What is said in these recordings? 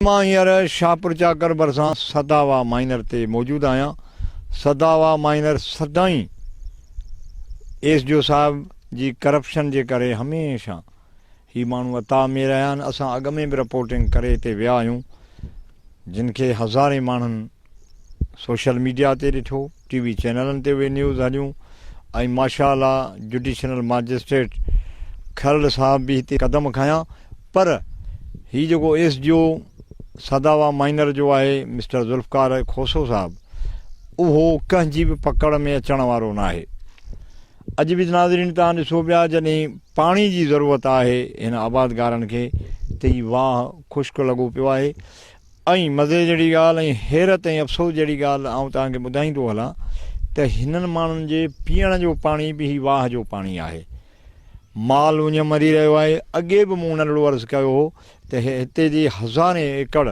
مان هينئر شاهپورچاڪر ڀرسان سدا واهه مائنر تي موجود آهيان. سدا واهه مائنر سدائين ايس ڊي او صاحب جي ڪرپشن جي ڪري هميشه هي ماڻهو عطا امير رهيا آهن. اسان اڳ ۾ به رپورٽنگ ڪري هتي ويا آهيون جن کي هزارين ماڻهن سوشل ميڊيا تي ڏٺو، ٽي وي چينلن تي اهي نيوز هليون ۽ ماشاء الله جڊيشنل ماجسٽريٽ کهرڙ صاحب به هتي قدم کنيا پر هي جيڪو S D O Sadawa minor جو آهي مسٽر ذوالفقار کوسو صاحب اهو ڪنهن جي به پڪڙ ۾ اچڻ وارو ناهي. اڄ به ناظرين توهان ڏسو پيا جڏهن پاڻي جي ضرورت آهي هن آبادگارن کي ته هي واهه خشڪ لڳو پيو آهي ۽ مزي جهڙي ڳالهه ۽ حيرت ۽ افسوس جهڙي ڳالهه آئون توهان کي ٻڌائيندو هلان ته هنن ماڻهن جي پيئڻ جو پاڻي به هي واهه جو پاڻي آهي. مال اڃ مري رهيو آهي. اڳي به مون ننڍڙو عرض ڪيو هو ته هتي جي هزارين ايڪڙ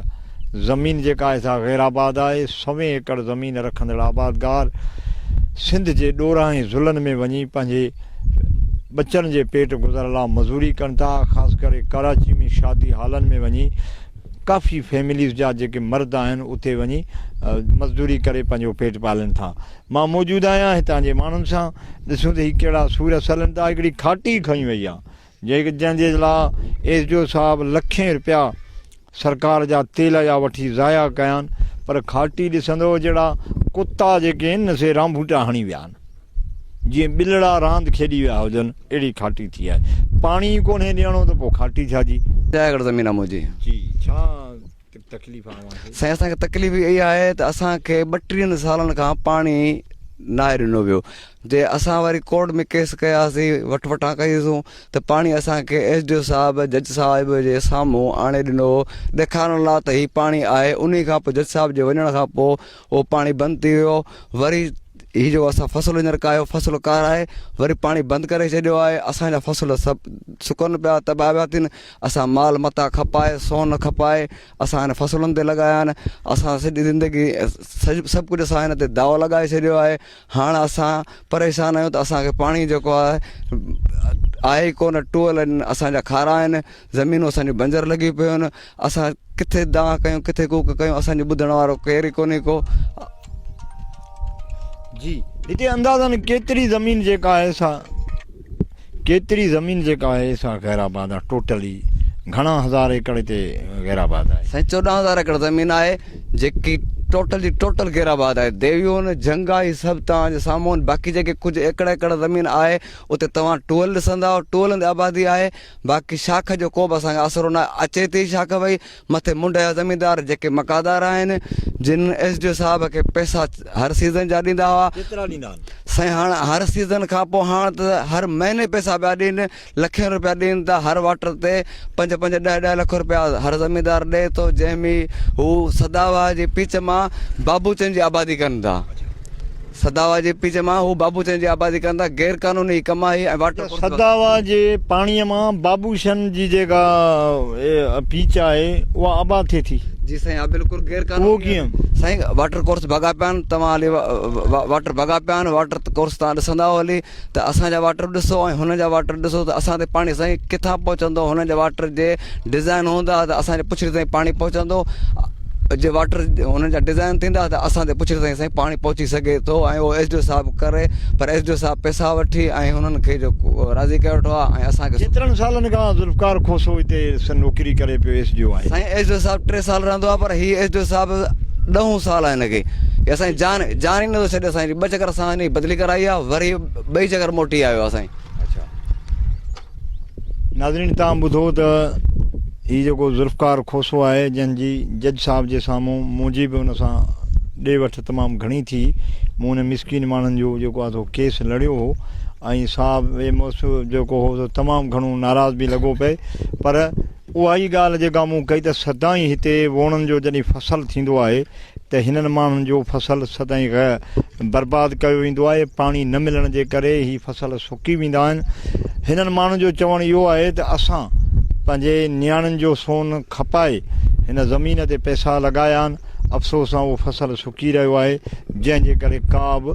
زمين جيڪا آهي سا غير آباد آهي. سوين ايڪڙ زمين رکندڙ آبادگار سنڌ جي ڏورانهن ۽ ضلعن ۾ وڃي پنهنجي ٻچن جي پيٽ گذر لا مزوري ڪن ٿا. خاص ڪري ڪراچي ۾ شادي هالن ۾ وڃي ڪافي فيمليز جا جيڪي مرد آهن اتي وڃي مزدوري ڪري پنهنجو پيٽ پالن ٿا مان موجود آهيان هتان جي ماڻهن سان ڏسون ته هي ڪهڙا سور اصلن ٿا هڪڙي کاٽي کڻي وئي آهي جنهن جي لاء ايس ڊي او صاحب لکين روپيا سرڪار جا تيل جا وٺي ضايع ڪيا آهن پر کاٽي ڏسندو جهڙا ڪتا جيڪي آهن سي رانڀوٽا هڻي ويا آهن جيئن ٻلڙا راند کيڏي ويا هجن اهڙي کاٽي ٿي آهي. پاڻي ئي ڪونهي ڏيڻو ته پوء کاٽي ڇا جي. جاء گهڙ زمين آ منهنجي. جي ڇا تڪليف آ اوهان کي. سائين اسان کي تڪليف اها آهي ته اسان کي ٻٽيهن سالن کان پاڻي ناهي ڏنو ويو جي اسان وري ڪورٽ ۾ ڪيس ڪياسي وٺ وٺان ڪئي سون ته پاڻي اسان کي ايس ڊي او صاحب جج صاحب جي سامهون آڻي ڏنو هو ڏيکارڻ لا ته هي پاڻي آهي انهي کان پوء جج صاحب جي وڃڻ کان پوء اهو پاڻي بند ٿي ويو وري هي جو اسان فصل هينئر ڪاهيو فصل ڪاراهي وري پاڻي بند ڪري ڇڏيو آهي اسانجا فصل سڀ سڪن پيا تباهه پيا ٿين اسان مال متان کپائي سون کپائي اسان هن فصلن تي لڳايا آهن اسان سڄي زندگي سڄي سڀ ڪجهه اسان هن تي داؤ لڳائي ڇڏيو آهي هاڻ اسان پريشان آهيون ته اسان کي پاڻي جيڪو آهي آهي ئي ڪونه ٽوئل آهن اسانجا کارا آهن زمينون اسانجو بنجر لڳي پيو آهن اسان ڪٿي دانهن ڪيون ڪٿي ڪوڪ ڪيون اسانجو ٻڌڻ وارو ڪير ئي ڪونهي ڪو جي هتي اندازن ڪيتري زمين جيڪا آهي سا ڪيتري زمين جيڪا آهي سا غير آباد آهي ٽوٽلي گهڻا هزار ايڪڙ هتي غير آباد آهي. سائين چوڏهن هزار ايڪڙ زمين آهي جيڪي ٽوٽل جي ٽوٽل غير آباد آهي ديويون جهنگا هي سڀ توهان جي سامهون باقي جيڪي ڪجهه ايڪڙ ايڪڙ زمين آهي اتي توهان ٽوئل ڏسندا ٽوئلن تي آبادي آهي باقي شاخ جو ڪو به اسان کي آسرو نه اچي ٿي شاخ ڀئي مٿي منڍ جا زميندار جيڪي مڪادار آهن جن ايس ڊي او صاحب کي پئسا هر سيزن جا ڏيندا هئا سائين هاڻ هر سيزن کان پوء هاڻ ته هر مهيني پئسا پيا ڏين لکين روپيا ڏين ٿا هر واٽر تي پنج پنج ڏهه ڏهه لک روپيا هر زميندار ڏئي ٿو جنهن ۾ هو سداوا جي پيچ مان بابوچن جي آبادي ڪن ٿا سداوا جي پيڄ مان هو بابوچن جي آبادي ڪن ٿا غير قانوني هي ڪم آهي ۽ واٽر ڪورس سداوا جي پاڻي مان بابوشن جي جيڪا پيڄ آهي اها آباد ٿئي ٿي. جي سائين اها بلڪل غير قانوني اهو ڪيئن؟ سائين واٽر ڪورس ڀڳا پيا آهن توهان هلي واٽر ڀڳا پيا آهن واٽر ڪورس توهان ڏسندا هلي. ته اسان جا واٽر ڏسو ۽ هنن جا واٽر ڏسو ته اسان تي پاڻي سائين ڪٿان پهچندو هنن جا واٽر جي ڊزائن هوندا ته اسان جي پڇڙي تائين پاڻي پهچندو جي واٽر هنن جا ڊزائن ٿيندا ته اسان تي پڇڙي تائين سائين پاڻي پهچي سگهي ٿو ۽ اهو ايس ڊي او صاحب ڪري پر ايس ڊي او صاحب پيسا وٺي ۽ هنن کي جو راضي ڪري وٺو آهي ۽ اسان کي ڪيترن سالن کان ذوالفقار کوسو هتي نوڪري ڪري پيو ايس ڊي او آهي سائين ايس ڊي او صاحب ٽي سال رهندو آهي پر هي ايس ڏي او صاحب ڏهون سال آهي هن کي اسان جان جان ئي نٿو ڇڏي اسان ٻه چڪر اسان هن جي بدلي ڪرائي آهي وري ٻئي چڪر موٽي آيو آهي سائين اچا ناظرين تان ٻڌو ته هي جيڪو ذوالفقار کوسو آهي جنهن جي جج صاحب جي سامهون منهنجي به ان سان ڏي وٺ تمام گهڻي ٿي مون ان مسڪين ماڻهن جو جيڪو آهي سو ڪيس لڙيو هو ۽ صاحب جيڪو هو سو تمام گهڻو ناراض به لڳو پئي پر اها ئي ڳالهه جيڪا مون ڪئي ته سدائين هتي ووڻن جو جڏهن فصل ٿيندو آهي ته هنن ماڻهن جو فصل سدائين برباد ڪيو ويندو آهي پاڻي نه ملڻ جي ڪري هي فصل سڪي ويندا آهن هنن ماڻهن جو چوڻ اهو آهي ته اسان پنهنجي نياڻين جو سون کپائي هن زمين تي پئسا لڳايا آهن افسوس سان اهو فصل سڪي رهيو آهي جنهن جي ڪري ڪا به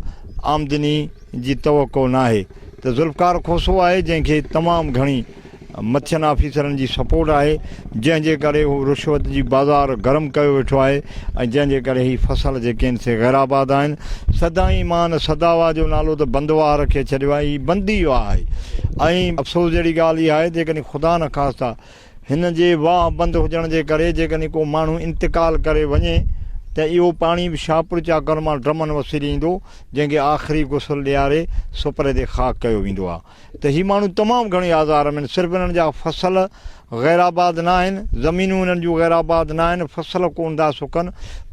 آمدني جي توقع ناهي ته ذوالفقار کوسو آهي جنهن کي تمام گهڻي مٿين آفيسرن جي سپورٽ آهي جنهن جي ڪري هو رشوت جي بازار گرم ڪيو ويٺو آهي ۽ جنهن جي ڪري هي فصل جيڪي آهن سي غير آباد آهن سدائين مان سداوا جو نالو ته بند واهه رکي ڇڏيو آهي هي بند ئي واهه آهي ۽ افسوس جهڙي ڳالهه اها آهي جيڪڏهن خدا نخواسته هن جي واهه بند هجڻ جي ڪري جيڪڏهن ڪو ماڻهو انتقال ڪري وڃي ته اهو پاڻي به شاهپور چاڪر مان ڊرمن وسيلي ايندو جنهن کي آخري غسل ڏياري سپرد خاڪ ڪيو ويندو آهي ته هي ماڻهو تمام گهڻي آزار ۾ آهن، صرف انهن جا فصل غير آباد نه آهن، زمينون انهن جون غير آباد نه آهن، فصل ڪونه ٿا سڪن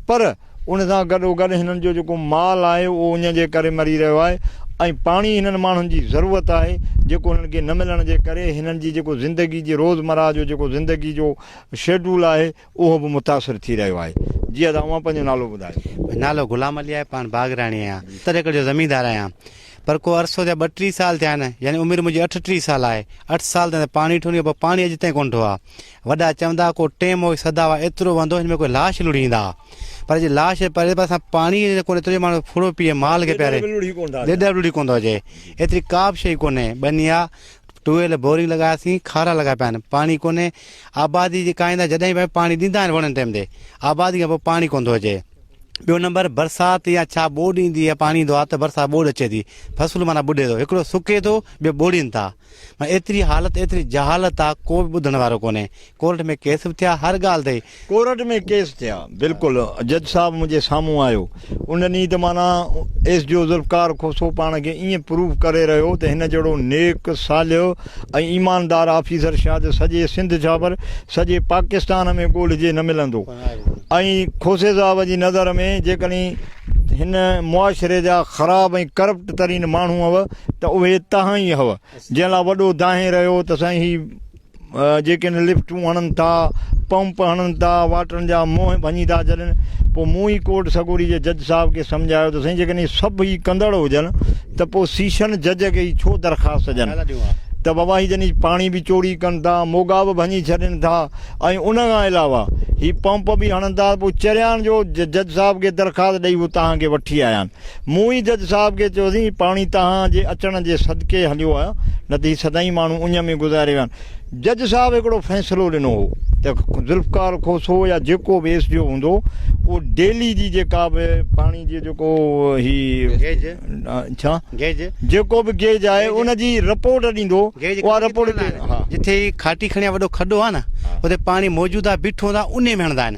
پر ان سان گڏوگڏ هنن جو جيڪو مال آهي اهو اڃ جي ڪري مري رهيو آهي ۽ پاڻي هنن ماڻهن جي ضرورت آهي جيڪو هنن کي نه ملڻ جي ڪري هنن جي جيڪو زندگي جي روزمرهه جو جيڪو زندگي جو شيڊول آهي اهو به متاثر ٿي رهيو آهي. جي ادا اوهان پنهنجو نالو ٻڌايو. نالو غلام علي آهي پاڻ باغراڻي آهيان ستر ايڪڙ جو زميندار آهيان پر ڪو عرصو ٿيا ٻه ٽي سال ٿيا آهن يعني عمر منهنجي اٺ ٽي سال آهي اٺ سال ٿيا پاڻي ٺو نيو پر پاڻي اڄ تائين ڪونه ٺو آ وڏا چوندا ها ڪو ٽيم هو سدا هئا ايترو وهندو هن ۾ ڪوئي لاش لڙهي ايندا ها پر جي لاش پري پر اسان پاڻي ڪونه ايترو جو ماڻهو ڦڙو پيئي مال کي پياري ڏيڏر به لڙهي ڪونه ٿا اچن ايتري ڪا به شئي ڪونه بني آ ٽويل بورنگ لڳاياسين کارا لڳا پيا آهن پاڻي ڪونهي آبادي جي ڪائندا جڏهن به پاڻي ڏيندا آهن وڻن ٽيم تي آبادي کان پوء پاڻي ڪونه ٿو اچي ٻيو نمبر برسات يا ڇا ٻوڏ ايندي آهي پاڻي ايندو آهي ته برسات ٻوڏ اچي ٿي فصل معنيٰ ٻڏي ٿو هڪڙو سڪي ٿو ٻيو ٻوڙين ٿا معنيٰ ايتري حالت ايتري جهالت آهي ڪو به ٻڌڻ وارو ڪونهي ڪورٽ ۾ ڪيس به ٿيا هر ڳالهه تي. ڪورٽ ۾ ڪيس ٿيا بلڪل جج صاحب منهنجي سامهون آيو ان ڏينهن ته معنيٰ S D O Zulfiqar Khoso پاڻ کي ائين پروف ڪري رهيو ته هن جهڙو نيڪ صالح ۽ ايماندار آفيسر شايد سڄي سنڌ ڇاپر سڄي پاڪستان ۾ ڳولهجي نه ملندو ۽ کوسي صاحب جي نظر ۾ جيڪڏهن هن معاشري جا خراب ۽ ڪرپٽ ترين ماڻهو هئا ته اهي تهان ئي هئا جنهن لاء وڏو دانهين رهيو ته سائين هي جيڪڏهن لفٽون هڻن ٿا، پمپ هڻن ٿا، واٽرن جا منهن ڀڃي ٿا ڇڏن، پوء مون ئي ڪورٽ سڳوري جي جج صاحب کي سمجهايو ته سائين جيڪڏهن سڀ ئي ڪندڙ هجن ته پوء سيشن جج کي ئي ڇو درخواست ڏين ته بابا هي جني پاڻي به چوري ڪن ٿا، موڳا به ڀڃي ڇڏين ٿا ۽ ان کان علاوه هي پمپ به هڻن ٿا، پوء چريان جو جج صاحب کي درخواست ڏئي هو توهان کي وٺي آيا آهن. مون ئي جج صاحب کي چيو سين، پاڻي توهان جي اچڻ جي صدقي هليو آهيان، نه ته هي سدائين ماڻهو اڃ ۾ گذاري ويا آهن. جج صاحب هڪڙو فيصلو ڏنو هو ته ذوالفقار کوسو يا جيڪو به ايس ڊي او هوندو، اهو ڊيلي جي جيڪا به پاڻي جي جيڪو هي گيج ڇا گيج جيڪو به گيج آهي ان جي رپورٽ ڏيندو، اها رپورٽ جتي کاٽي کڻي وڏو کڏو آهي نه، اتي پاڻي موجود آهي، بيٺو هوندو آهي، انهي ۾ هڻندا آهن.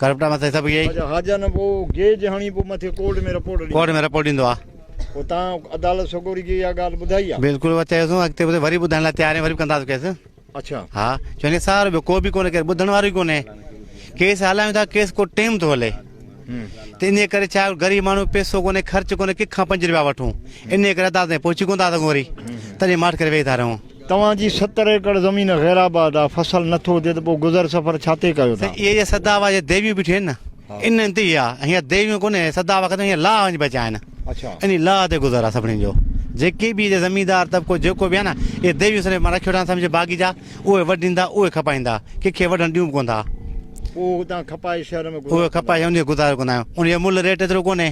ڪرپٽا مٿي سڀ اهي ئي. اچا حاجي جان پوء گيج هڻي پوء مٿي ڪورٽ ۾ رپورٽ ڏيندو. ڪورٽ ۾ رپورٽ ڏيندو آ. پوء تان عدالت سڳوري کي اها ڳالهه ٻڌائي آ. بلڪل اها چيوسون اڳتي به وري ٻڌائڻ لاء تيار آهيون وري به ڪنداسون ڪيس. اچا. ها چون کي سارو ٻيو ڪو به ڪونه ڪير ٻڌڻ وارو ئي ڪونه ڪيس هلايون ٿا ڪيس ڪو ٽيم ٿو هلي. ته انهي ڪري ڇا غريب ماڻهو پيسو ڪونه خرچ ڪونه ڪنهن کان پنج رپيا وٺون انهي ڪري عدالت تائين پهچي ڪونه ٿا سگهون وري تڏهن ماٺ ڪري ويهي ٿا رهون. توهان جي ستر ايڪڙ زمين غير آباد آ فصل نه ٿو اچي ته پو گذر سفر ڇاتي ڪيو ٿا. سائين اهي جا سدا هئا جا ديويون بيٺيون آهن نه ان انت ئي آ هينئر ديويون ڪونهي هي سدا هئا ختم هينئر لاء وڃي بچيا آهن انهي لاء تي گذر آ سڀني جو جيڪي به هيجا زميندار طبقو جيڪو به آ نه اهي ديويون سندي مان رکيو ٺاهن سمجهه باغي جا اهي وڍيندا اهي کپائيندا ڪنکي وڍڻ ڏيون به ڪون ٿا پو هتان کپائي شهر ۾ گذر اهي کپائي انهي گذارو ڪندا آهيون انهي جو ملهه ريٽ ايترو ڪونهي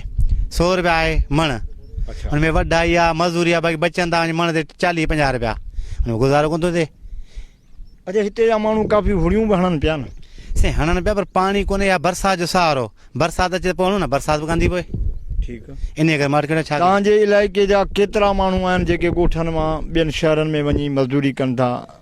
سو روپيا آهي مڻ. ان ۾ وڍائي يا مزوري يا باقي بچن تان وڃي مڻ تي چاليهه پنجاهه روپيا ان ۾ گذارو ڪون ٿو ٿئي اچا هتي جا ماڻهو ڪافي هڙيون به هڻن پيا نه سائين هڻن پيا پر پاڻي ڪونهي يا برسات جو سهارو برسات اچي پوڻو نه برسات به ڪندي پوء ٺيڪ ان ڪري ماٽ ڪيڙا ڇا تان جي علائقي جا ڪيترا ماڻهو آهن جيڪي ڳوٺن مان ٻين شهرن ۾ وڃي مزدوري ڪن ٿا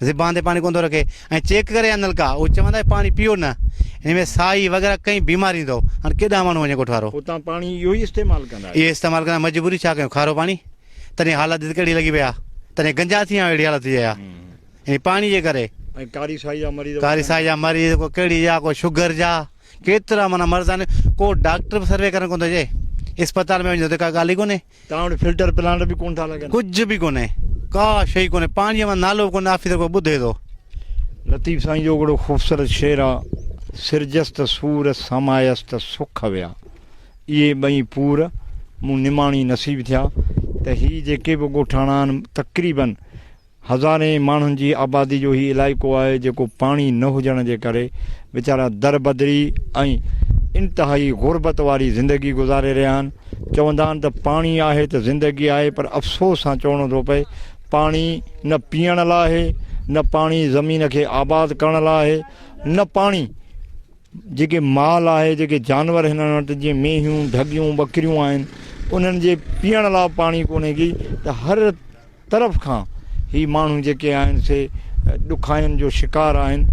زبان تي پاڻي ڪوندو رکي ۽ چيڪ ڪري آندل ڪا او چوندا هي پاڻي پيو نه ان ۾ سائي وغيره ڪئين بيمار ايندو هاڻ ڪيڏا ماڻهو وڃي ڳوٺ وارو اتان پاڻي اهو ئي استعمال ڪندا اهي استعمال ڪندا مجبوري ڇا ڪيون کارو پاڻي تڏهن حالت ڏس ڪهڙي لڳي پئي آ تڏهن گنجا ٿي آ اهڙي حالت ٿي آ ان پاڻي جي ڪري ۽ ڪاري سائي جا مريض ڪاري سائي جا مريض ڪو ڪهڙي جا ڪو شگر جا ڪيترا مانا مرض آهن ڪو ڊاڪٽر به سروي ڪرڻ ڪوندو اچي اسپتال ۾ وڃي ته ڪا ڳالهه ئي ڪونهي توهان وٽ فلٽر پلانٽ به ڪونه ٿا لڳن. ڪجهه به ڪونهي ڪا شئي ڪونهي پاڻي مان نالو ڪونهي آفيسر ڪو ٻڌي ٿو. لطيف سائين اهو ڪهڙو خوبصورت شعر آ سرجس ته سور سامايس ته سک ويا اهي ٻئي پور مون نماڻي نصيب ٿيا ته هي جيڪي به ڳوٺاڻا آهن تقريبن هزارين ماڻهن جي آبادي جو هي علائقو آهي جيڪو پاڻي نه هجڻ جي ڪري ويچارا دربدري ۽ انتهائي غربت واري زندگي گذاري رهيا آهن چوندا آهن ته پاڻي آهي ته زندگي آهي پر افسوس سان چوڻو ٿو پئي پاڻي نه پيئڻ لا آهي نه پاڻي زمين کي آباد ڪرڻ لا آهي نه پاڻي جيڪي مال آهي جيڪي جانور هنن وٽ جيئن مينهيون ڍڳيون ٻڪريون آهن انهن جي پيئڻ لا پاڻي ڪونهي ڪي ته هر طرف کان هي ماڻهو جيڪي آهن سي ڏکاين جو شڪار آهن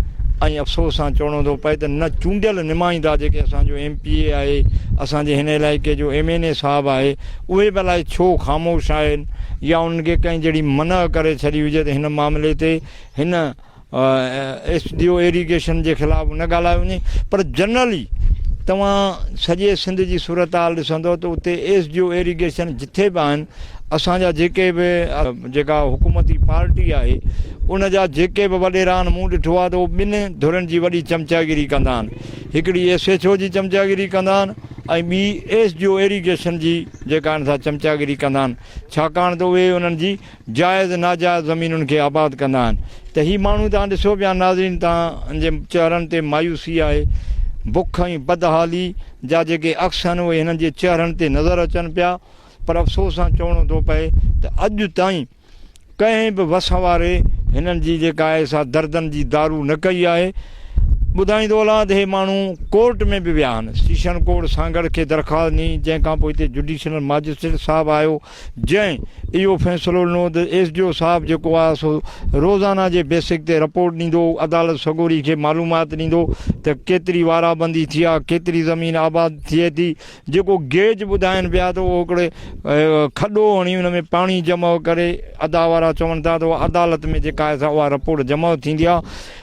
۽ افسوس سان چوڻو ٿو پئي ته نه چونڊيل نمائندا جيڪي اسان جو ايم پي اي آهي اسان جي هن علائقي جو ايم اين اي صاحب آهي اهي به الائي ڇو خاموش آهن يا انهن کي ڪنهن جهڙي منع ڪري ڇڏي هجي ته هن معاملي تي هن ايس ڊي او ايريگيشن جي خلاف به نه ڳالهايو وڃي پر جنرلي توهان سڄي سنڌ جي صورتحال ڏسندو ته اتي ايس ڊي او ايريگيشن جٿي به آهن اسان جا جيڪي به جيڪا حڪومتي پارٽي آهي ان جا جيڪي به وڏيرا آهن مون ڏٺو آهي ته اهو ٻن ڌرين جي وڏي چمچاگيري ڪندا آهن هڪڙي ايس ايچ او جي چمچاگيري ڪندا آهن ۽ ٻي ايس ڊي او ايريگيشن جي جيڪا آهن سا چمچاگيري ڪندا آهن ڇاڪاڻ ته اهي انهن جي جائز ناجائز زمينن کي آباد ڪندا آهن ته هي ماڻهو توهان ڏسو پيا ناظرين توهان جي چهرن تي مايوسي آهي بک ۽ بدحالي جا جيڪي عڪس آهن اهي هنن جي چهرن تي نظر اچن پيا پر افسوس سان چوڻو ٿو پئي ته اڄ تائين ڪنهن به وس واري هنن جي جيڪا آهي سا دردن جي دارو نه ڪئي آهي ٻڌائيندو هلان ته هي ماڻهو ڪورٽ ۾ به ويا آهن سيشن ڪورٽ سانگهڙ کي درخواست ڏني جنهن کان پوء هتي جوڊيشنل ماجسٽريٽ صاحب آيو جنهن اهو فيصلو ڏنو ته ايس ڊي او صاحب جيڪو آهي سو روزانه جي بيسڪ تي رپورٽ ڏيندو، عدالت سڳوري کي معلومات ڏيندو ته ڪيتري وارا بندي ٿي آهي، ڪيتري زمين آباد ٿئي ٿي، جيڪو گيج ٻڌائين پيا ته اهو هڪڙو کڏو هڻي ان ۾ پاڻي جمع ڪري ادا وارا چون ٿا ته عدالت ۾ جيڪا آهي سا اها رپورٽ جمع ٿيندي آهي.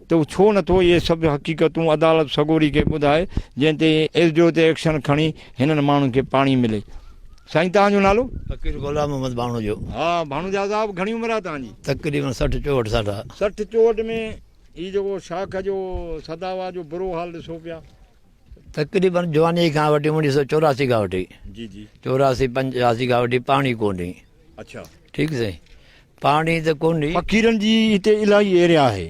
تو ڇو نه ٿو اهي سڀ حقيقتون عدالت سڳوري کي ٻڌائي جنهن تي ايس ڊي او تي ايڪشن کڻي هنن ماڻهن کي پاڻي ملي. سائين توهان جو نالو؟ فقير غلام محمد ڀاڻوجو. ها ڀاڻوجا صاحب گهڻي عمر آ توهان جي؟ تقريبن سٺ چوهٺ سال آ. سٺ چوهٺ ۾ هي جيڪو شاخ جو سداوا جو برو حال ڏسو پيا. تقريبن جواني کان وٺي اوڻيهه سؤ چوراسي کان وٺي جي جي چوراسي پنجاسي کان وٺي پاڻي ڪونهي اڇا ٺيڪ سائين پاڻي ته ڪونهي. فقيرن جي هتي الاهي ايريا آهي.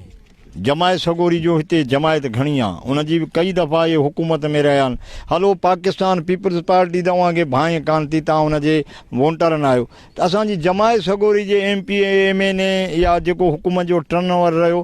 جماعت سڳوري جو هتي جماعت گهڻي آ. ان جي به ڪئي دفعا اهي حڪومت ۾ رهيا آهن. هلو پاڪستان پيپلز پارٽي ته اوهان کي ڀانء ڪانه ٿي توهان ان جي وونٽرن آهيو ته اسان جي جماعت سڳوري جي M P M N A يا جيڪو حڪومت جو ٽرن اوور رهيو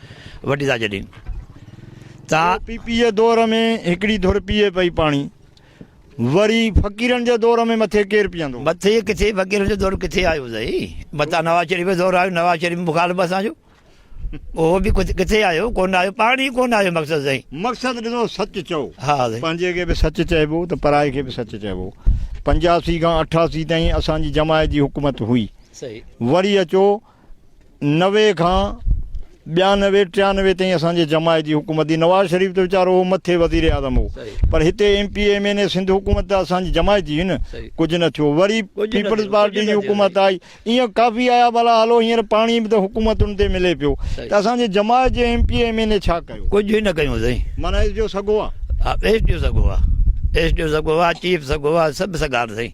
وڍي ٿا ڇڏين ته پي پي جي دور ۾ هڪڙي ڌر پيئي پئي پاڻي وري فقيرن جي دور ۾ مٿي ڪير پيئندو؟ مٿي ڪٿي فقيرن جو دور ڪٿي آيو اٿئي متان نواز شريف جو دور آيو نواز شريف مخالف اسان جو اهو به ڪٿي آيو ڪونه آيو پاڻي ئي ڪونه آيو مقصد سائين مقصد ڏسو سچ چئو ها سائين پنهنجي کي به سچ چئبو ته پرائي کي به سچ چئبو پنجاسي کان اٺاسي تائين اسان جي جماعت جي حڪومت هئي سهي وري اچو نوي کان ٻيانوي ٽيانوي تائين اسان جي جماعت جي حڪومت هئي نواز شريف ته ويچارو هو مٿي وزير اعظم هو پر هتي M P M N A Sindh حڪومت ته اسان جي جماعت جي هئي نه ڪجهه نه ٿيو وري پيپلز پارٽي جي حڪومت آئي ائين ڪافي آيا ڀلا هلو هينئر پاڻي به ته حڪومتن تي ملي پيو ته اسان جي جماعت جي M P M N A ڇا ڪيو ڪجهه نه ڪيو سائين معنيٰ اس جو سگهو آ اس جو سگهو آ اس جو سگهو آ چيف سگهو آ سڀ سگهار سائين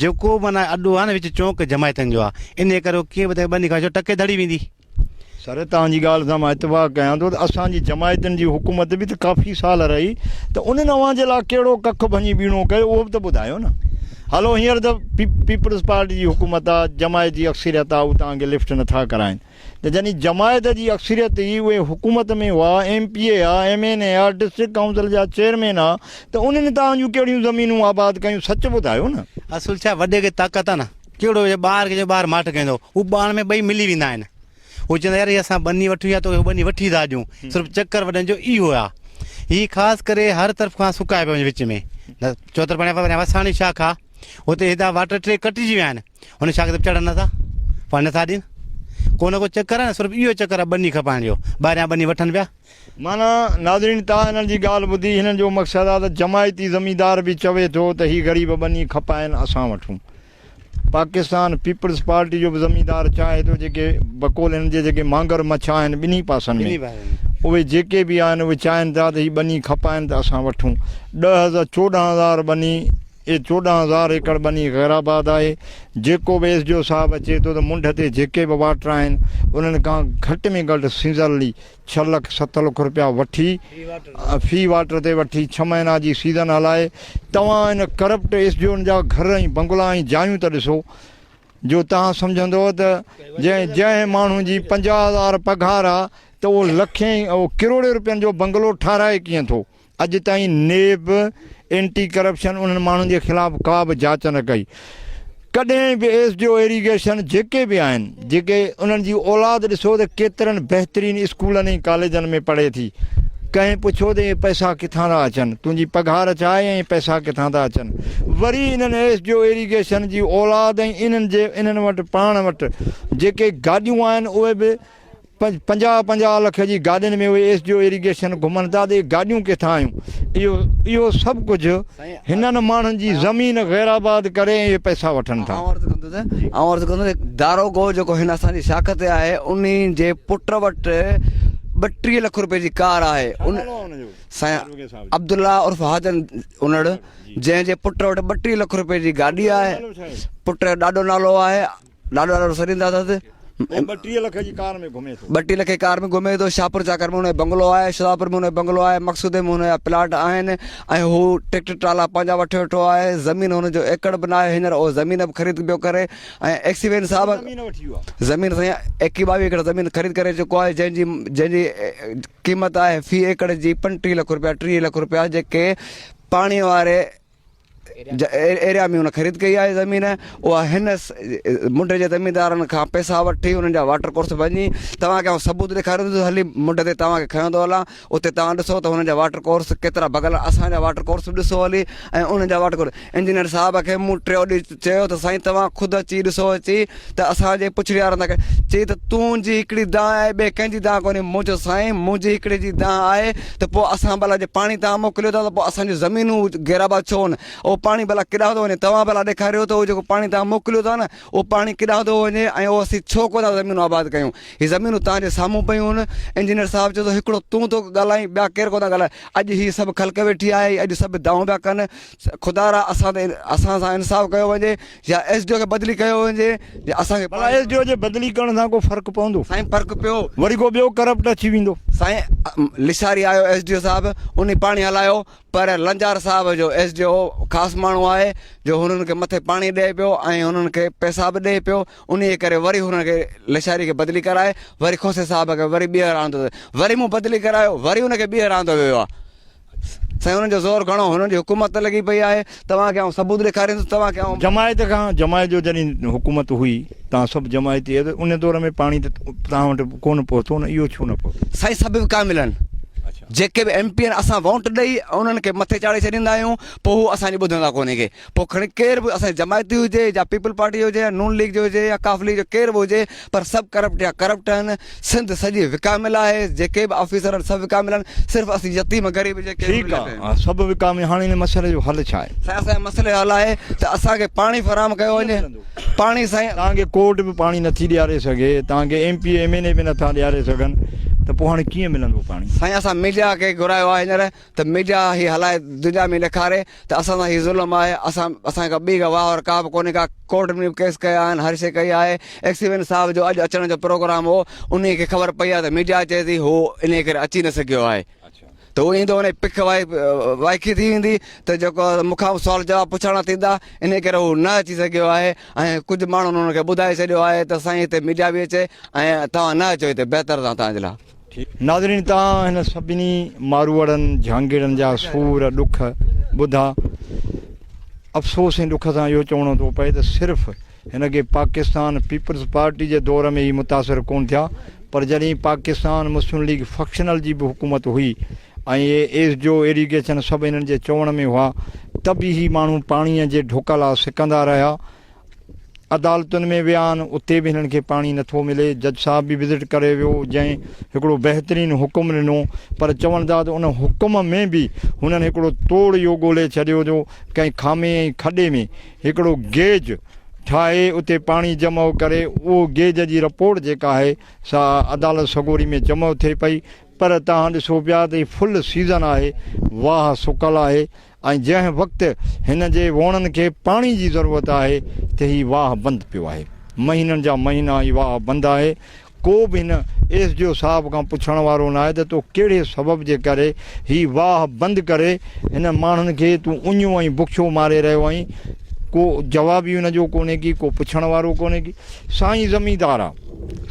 جيڪو معنيٰ اڏو آهي نه وچ چونڪ جماعتن جو آهي انهيء ڪري هو ڪيئن به تنهنکي ٻنهي کان ڇو ٽڪي ڌڙي ويندي. سر توهان جي ڳالهه سان مان اتفاق ڪيان ٿو ته اسان جي جماعتن جي حڪومت به ته ڪافي سال رهي ته انهن اوهان جي لاء ڪهڙو ڪک ڀڃي ٻيڻو ڪيو اهو به ته ٻڌايو نه هلو هينئر ته پيپلز پارٽي جي حڪومت آهي جماعت جي اڪثريت آهي هو توهان کي لفٽ نه ٿا ڪرائين. ته جنھن جماعت جي اڪثريت ئي اھي حڪومت ۾ ھئا، ايم پي اي ھئا، ايم اين اي ھئا، ڊسٽرڪٽ ڪائونسل جا چيئرمين ھئا ته انھن توھان جون ڪھڙيون زمينون آباد ڪيون سچ ٻڌايو نه. اصل ڇا وڏي کي طاقت آ نه ڪھڙو ھجي ٻار کي چئجي ٻار ماٺ ڪھندو ھو ٻاڻ ۾ ٻئي ملي ويندا آھن ھو چئندا يار ھي اسان ٻني وٺون يا توکي ٻني وٺي ٿا ڏيون صرف چڪر وڏن جو اھو آ ھي خاص ڪري ھر طرف کان سڪائي پيو وڃي وچ ۾ چوطرف وساڻي شاخ آ ھتي ھيڏا واٽر ٽي ڪٽجي ويا آھن هن شاخ تي چڙهن نٿا پاڻي نٿا ڏين ڪو نه ڪو چڪر آهي صرف اهو چڪر آهي ٻني کپائڻ جو ٻاهريان ٻني وٺن پيا معنيٰ ناظرين تان هنن جي ڳالهه ٻڌي هنن جو مقصد آهي ته جماعتي زميندار به چوي ٿو ته هي غريب ٻني کپائن اسان وٺون پاڪستان پيپلز پارٽي جو به زميندار چاهي ٿو جيڪي بقول هنن جي جيڪي مانگر مڇا آهن ٻنهي پاسن ۾ اهي جيڪي به آهن اهي چاهين ٿا ته هي ٻني کپائن ته اسان وٺون ڏهه هزار چوڏهن هزار ٻني اهي چوڏهن هزار ايڪڙ ٻني غيرآباد آهي، جيڪو به ايس ڊي او صاحب اچي ٿو ته منڍ تي جيڪي به واٽر آهن انهن کان گهٽ ۾ گهٽ سيزرلي ڇهه لک ست لک روپيا وٺي في واٽر تي وٺي ڇهه مهينا جي سيزن هلائي توهان ان ڪرپٽ ايس ڊي اون جا گهر ۽ بنگلا ۽ جايون ته ڏسو جو توهان سمجهندو ته جنهن جنهن ماڻهو جي پنجاهه هزار پگهار آ ته اهو لکين اهو ڪروڙين روپين جو بنگلو ٺهرائي ڪيئن ٿو. اڄ تائين نيب، اينٽي ڪرپشن انهن ماڻهن جي خلاف ڪا به جاچ نه ڪئي. ڪڏهن به ايس ڊي او ايريگيشن جيڪي به آهن جيڪي انهن جي اولاد ڏسو ته ڪيترن بهترين اسڪولن ۽ ڪاليجن ۾ پڙهي ٿي ڪنهن پڇيو ته اهي پئسا ڪٿان ٿا اچن تنهنجي پگهار ڇا آهي ۽ پئسا ڪٿان ٿا اچن وري انهن ايس ڊي او ايريگيشن جي اولاد ۽ انهن جي انهن وٽ پاڻ وٽ جيڪي گاڏيون آهن اهي به پنجاهه پنجاهه لک جي گاڏين ۾ اهي ايس ڊي او ايريگيشن گهمن ٿا ته اهي گاڏيون ڪٿان آيون اهو اهو سڀ ڪجهه هنن ماڻهن جي زمين غير آباد ڪري ۽ اهي پئسا وٺن ٿا. آئون عرض ڪندس آئون عرض ڪندس داروغو جيڪو هن اسان جي شاخ تي آهي انهي جي پٽ وٽ ٻٽيهه لک روپين جي ڪار آهي ان نالو آهي ان جو سائين عبدالله عرف حاجن انڙ جنهن جي پٽ وٽ ٻٽيهه لک روپين جي گاڏي آهي پٽ جو ڏاڏو نالو آهي لاڏو لاڏو رسول ايندا اٿس. هو ٻٽيهه لک جي ڪار ۾ گهمي ٿو. ٻٽيهه لک جي ڪار ۾ گهمي ٿو. شاهپور چاڪر ۾ هن جو بنگلو آهي. شهدادپور ۾ هن جو بنگلو آهي. مقصودي ۾ هن جا پلاٽ آهن ۽ هو ٽريڪٽر ٽرالا پنهنجا وٺي ويٺو آهي. زمين هن جو ايڪڙ به ناهي. هينئر اهو زمين به خريد پيو ڪري ۽ ايڪسيوين صاحب زمين سائين ايڪيهه ٻاويهه ايڪڙ زمين خريد ڪري چڪو آهي جنهن جي جنهن جي قيمت آهي في ايڪڙ جي پنجٽيهه لک رپيا ٽيهه لک رپيا جيڪي پاڻي واري جنهن ايريا ۾ هن خريد ڪئي آهي زمين اها هن منڊ جي زميندارن کان پئسا وٺي انهن جا واٽر ڪورس ڀڃي توهان کي آئون ثبوت ڏيکاريندس هلي منڊ تي توهان کي کنيو ٿو هلان اتي توهان ڏسو ته هن جا واٽر ڪورس ڪيترا ڀڳل اسان جا واٽر ڪورس به ڏسو هلي ۽ انهن جا واٽر ڪورس انجنيئر صاحب کي مون ٽيو ڏينهن چيو ته سائين توهان خود اچي ڏسو اچي ته اسان جي پڇڙيارن تان چي ته تون جي هڪڙي دانهن آهي ٻي ڪنهن جي دانهن ڪونهي مون چيو سائين مون جي هڪڙي جي دانهن آهي ته پوء اسان ڀلا جي پاڻي توهان موڪليو ٿا ته پوء اسان جون زمينون گهرابا ڇو نه اهو پاڻي ڀلا ڪيڏانهن ٿو وڃي توهان ڀلا ڏيکاريو ته اهو جيڪو پاڻي توهان موڪليو ٿا نه اهو پاڻي ڪيڏانهن ٿو وڃي ۽ اهو اسين ڇو ڪو ٿا زمينون آباد ڪيون هي زمينون توهان جي سامهون پيون آهن انجنيئر صاحب چيو ته هڪڙو تون ٿو ڳالهائين ٻيا ڪير ڪو ٿا ڳالهائين اڄ هي سڀ خلق ويٺي آهي اڄ سڀ دانهون پيا ڪن خدا را اسان تي اسان سان انصاف ڪيو وڃي يا ايس ڊي او کي بدلي ڪيو وڃي يا اسان کي بلا ايس ڊي او جي بدلي ڪرڻ سان ڪو فرق پوندو سائين فرق پيو وري ڪو ٻيو ڪرپٽ اچي ويندو سائين لشاري آيو ايس ڊي او صاحب انهي پاڻي هلايو پر لنجار صاحب جو ايس ڊي او خاص ماڻهو آهي جو هنن کي مٿي پاڻي ڏئي پيو ۽ هنن کي پيسا به ڏئي پيو انهي ڪري وري هنن کي لشاري کي بدلي ڪرائي وري کوسي صاحب کي وري ٻيهر آندو وري مون بدلي ڪرايو وري ان کي ٻيهر آندو ويو آهي سائين انهن جو زور گهڻو هنن جي حڪومت ته لڳي پئي آهي توهان کي آئون ثبوت ڏيکاريندس توهان کي آئون. جماعت کان جماعت جو جڏهن حڪومت هئي توهان سڀ جماعتي هيا ته ان دور ۾ پاڻي ته توهان وٽ ڪونه پهتو نه اهو ڇو نه پهتو. سائين سڀ به ڪامل آهن جيڪي به ايم پي آهن اسان وونٽ ڏئي انهن کي مٿي چاڙهي ڇڏيندا آهيون پوء هو اسان جي ٻڌندا ڪونهي ڪي. پوء کڻي ڪير به اسان جي جماعت جي هجي يا پيپلز پارٽي جي هجي يا نون ليگ جي هجي يا ق ليگ جو ڪير به هجي پر سڀ ڪرپٽ يا ڪرپٽ آهن سنڌ سڄي وڪاميل آهي جيڪي به آفيسر آهن سڀ وڪاميل آهن صرف اسين يتيم غريب جيڪي ٺيڪ آهن ها سڀ وڪاميل هاڻي هن مسئلي جو حل ڇا آهي سائين اسان جي مسئلي جو حل آهي ته اسان کي پاڻي فراهم ڪيو وڃي پاڻي سائين توهان کي ڪورٽ به پاڻي نٿي ڏياري سگهي توهان کي M P M N A به نٿا ڏياري سگهن ته پوء هاڻي ڪيئن ملندو پاڻي سائين اسان ميڊيا کي گهرايو آهي هينئر ته ميڊيا هي هلائي دنيا ۾ ڏيکاري ته اسان سان هي ظلم آهي اسان اسان کي ڪا ٻي ڪا واهه ڪابه ڪونهي ڪا ڪورٽ ۾ به ڪيس ڪيا آهن هر شي ڪئي آهي ايڪسيوين صاحب جو اڄ اچڻ جو پروگرام هو انهي کي خبر پئي آهي ته ميڊيا چئي ٿي هو انهي ڪري اچي نه سگهيو آهي ته هو ايندو انهي پک وائکي ٿي ويندي ته جيڪو مون کان سوال جواب پڇاڻا ٿيندا انهي ڪري هو نه اچي سگهيو آهي ۽ ڪجهه ماڻهن انهن کي ٻڌائي ڇڏيو آهي ته سائين هتي ميڊيا به اچي ۽ توهان نه اچو هتي بهتر اٿا توهان جي لاء ناظرين توهان هن سڀني ماروئڙن جهانگيڙن جا سور ڏک ٻڌا افسوس ۽ ڏک سان اهو چوڻو ٿو پئي ته صرف هن کي پاڪستان پيپلز پارٽي جي دور ۾ ئي متاثر ڪون ٿيا پر جڏهن پاڪستان مسلم ليگ فڪشنل جي به حڪومت هئي ۽ اي ايس جو ايريگيشن سڀ هنن جي چوڻ ۾ هئا ته به هي ماڻهو پاڻي جي ڍوڪ لا سڪندا رهيا عدالتن ۾ ويا آهن اتي به هنن کي پاڻي نٿو ملي جج صاحب به وزٽ ڪري ويو جنهن هڪڙو بهترين حڪم ڏنو پر چون ٿا ته ان حڪم ۾ به هنن هڪڙو توڙ اهو ڳولي ڇڏيو جو ڪنهن خامي ۽ کڏي ۾ هڪڙو گيج ٺاهي اتي پاڻي جمع ڪري اهو گيج جي رپورٽ جيڪا آهي سا عدالت سڳوري ۾ جمع ٿئي پئي پر تهان ڏسو پيا ته هي فل سيزن آهي واهه سڪل آهي ۽ جنهن وقت هن جي ووڻن کي پاڻي جي ضرورت آهي ته هي واهه بند پيو آهي. مهينن جا مهينا هي واهه بند آهي. ڪو به هن ايس ڊي او صاحب کان پڇڻ وارو ناهي ته تو ڪهڙي سبب جي ڪري هي واهه بند ڪري هن ماڻهن کي تون اڃيون ۽ بکيو ماري رهيو آهين. ڪو جواب ئي هن جو ڪونهي ڪي ڪو پڇڻ وارو ڪونهي ڪي. سائين زميندار آهي.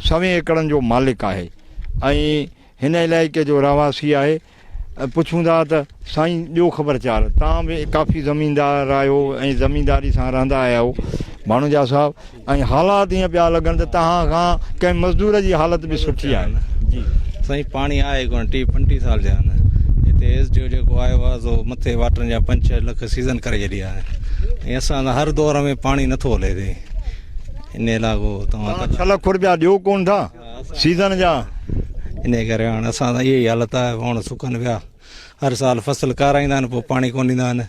سوين ايڪڙن جو مالڪ آهي ۽ هن علائقي جو رهواسي آهي. پڇون ٿا ته سائين ڏيو خبر چار توهان به ڪافي زميندار آهيو ۽ زمينداري سان رهندا آيا آهيو ڀاڻوجا صاحب ۽ حالات ائين پيا لڳن ته توهان کان ڪنهن مزدور جي حالت به سٺي آهي جي سائين پاڻي آهي ڪونه ٽي پنٽي سال جا آهن هتي ايس ڊي او جيڪو آيو آهي سو مٿي واٽرن جا پنج ڇهه لک سيزن ڪري ڇڏيا آهن ۽ اسان هر دور ۾ پاڻي نٿو هلي هتي ان علاقو توهان ڇهه لک رپيا ڏيو ڪونه ٿا سيزن جا انهي ڪري هاڻ اسان سان اهي ئي حالت آهي وڻ سڪن پيا هر سال فصل ڪارائيندا آهن پوء پاڻي ڪون ڏيندا آهن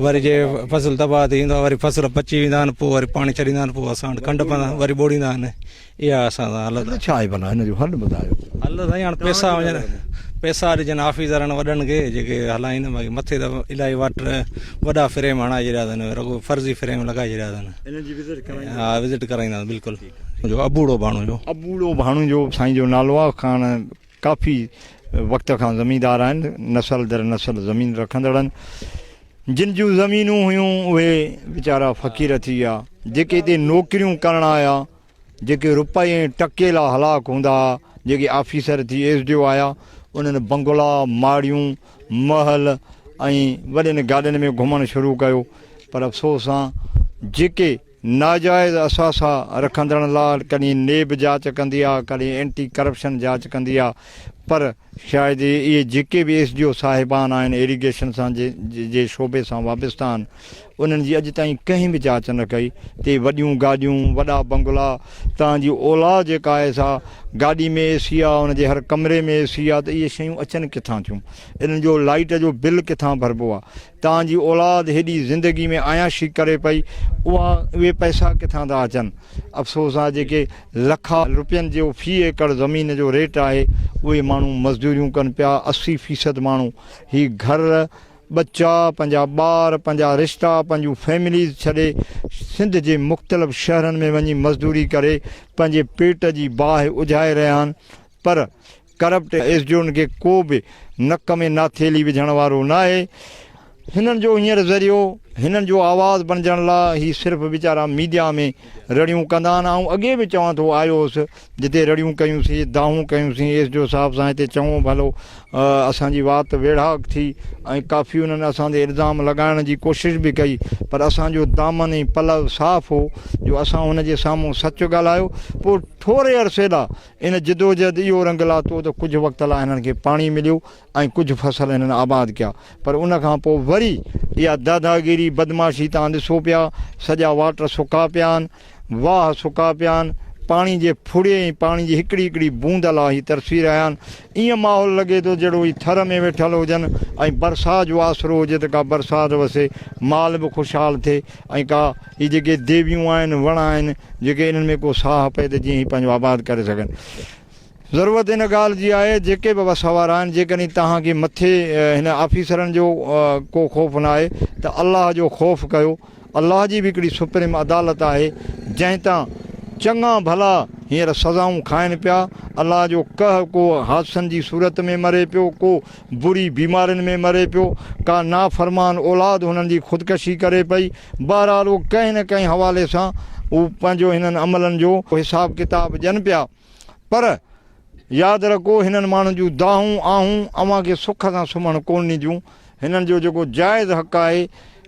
وري جي فصل تباهه ٿي ويندو وري فصل پچي ويندا آهن پوء وري پاڻي ڇڏيندا آهن پوء اسان وٽ کنڊ پندا وري ٻوڙيندا آهن اها اسان سان حالت آهي ڇا آهي بنا هن جو حل ٻڌايو حل سائين هاڻ پئسا وڃن پئسا ڏجن آفيسرن وڏن کي جيڪي هلائين باقي مٿي ته الائي واٽر وڏا فريم هڻائي ڇڏيا اٿن رڳو فرضي فريم لڳائي ڇڏيا اٿن ها وزٽ ڪرائيندا بلڪل جو ابوڙو ڀاڻوجو. ابوڙو ڀاڻوجو سائين جو نالو آ، کان ڪافي وقت کان زميندار آهن، نسل در نسل زمين رکندڙن جن جون زمينون هيون اهي ويچارا فقير ٿي ويا، جيڪي هتي نوڪريون ڪرڻ آيا، جيڪي روپئي ۽ ٽڪي لا هلاڪ هوندا ها، جيڪي آفيسر ٿي ايس ڊي او آيا، انهن بنگلا، ماڙيون، محل ۽ وڏين گاڏين ۾ گهمڻ شروع ڪيو، پر افسوس سان جيڪي. ناجائز اثاثا رکندڙن لا ڪڏهن نيب جاچ ڪندي آ ڪڏهن اينٽي ڪرپشن جاچ ڪندي آ پر شايد اهي جيڪي به ايس ڊي او صاحبان آهن ايريگيشن سان جي شعبي سان وابسته آهن انهن جي اڄ تائين ڪنهن به جاچ نه ڪئي تي وڏيون گاڏيون وڏا بنگلا تان جي اولا جيڪا آهي سا گاڏي ۾ اي سي آ ان جي هر ڪمري ۾ اي سي آ ته اهي شيون اچن ڪٿان ٿيون انهن جو لائيٽ جو بل ڪٿان ڀربو آ توهان جي اولاد هيڏي زندگي ۾ عياشي ڪري پئي، اها اهي پئسا ڪٿان ٿا اچن؟ افسوس آهي جيڪي لکا روپين جو في ايڪڙ زمين جو ريٽ آهي، اهي ماڻهو مزدوريون ڪن پيا، اسي فيصد ماڻهو هي گهر، ٻچا، پنهنجا ٻار، پنهنجا رشتا، پنهنجون فيمليز ڇڏي سنڌ جي مختلف شهرن ۾ وڃي مزدوري ڪري پنهنجي پيٽ جي باهه اجهائي رهيا آهن، پر ڪرپٽ ايسڊيون کي ڪو به نڪ ۾ ناٿيلي وجهڻ وارو ناهي. هنن جو هينئر ذريعو، هنن جو آواز بڻجڻ لا هي صرف ويچارا ميڊيا ۾ رڙيون ڪندا آهن. آئون اڳي به چوان ٿو آيو هوس جتي رڙيون ڪيون سين، دانهون ڪيون سين ايسڊيو صاحب سان هتي چڱو ڀلو اسان جي وات ويڙهاڪ ٿي ۽ ڪافي انهن اسان تي الزام لڳائڻ جي ڪوشش به ڪئي پر اسان جو دامن ۽ پلو صاف هو جو اسان هن جي سامهون سچ ڳالهايو پوء ٿوري عرصي لا ان جدوجهد اهو رنگ لاتو ته ڪجهه وقت لاء هنن کي پاڻي مليو ۽ ڪجهه فصل هنن آباد ڪيا پر ان کان پوء وري اها داداگيري بدمعاشي توهان ڏسو پيا سڄا واٽر سڪا پيا آهن واهه سڪا پيا آهن پاڻي جي ڦڙي ۽ پاڻي جي هڪڙي هڪڙي بوند لاء هي ترسي رهيا آهن ائين ماحول لڳي ٿو جهڙو هي ٿر ۾ ويٺل هجن ۽ برسات جو آسرو هجي ته ڪا برسات وسي، مال به خوشحال ٿئي ۽ ڪا هي جيڪي ديويون آهن، وڻ آهن جيڪي انهن ۾ ڪو ساهه پئي ته جيئن هي پنهنجو آباد ڪري سگهن. ضرورت ان ڳالهه جي آهي جيڪي به وس وارا آهن جيڪڏهن توهان کي مٿي هن آفيسرن جو ڪو خوف ناهي ته الله جو خوف ڪيو. الله جي به هڪڙي سپريم عدالت آهي جنهن تان چڱا ڀلا هينئر سزائون کائن پيا الله جو قهر ڪو حادثن جي صورت ۾ مري پيو ڪو بري بيمارين ۾ مري پيو ڪا نافرمان اولاد هنن جي خودڪشي ڪري پئي بهرحال اهو ڪنهن نه ڪنهن حوالي سان اهو پنهنجو هنن عملن جو حساب ڪتاب ڏين پيا. پر ياد رکو هنن ماڻهن جون دانهون آهون اوهان کي سک سان سمهڻ ڪونه ڏينديون هنن جو جيڪو جائز حق آهي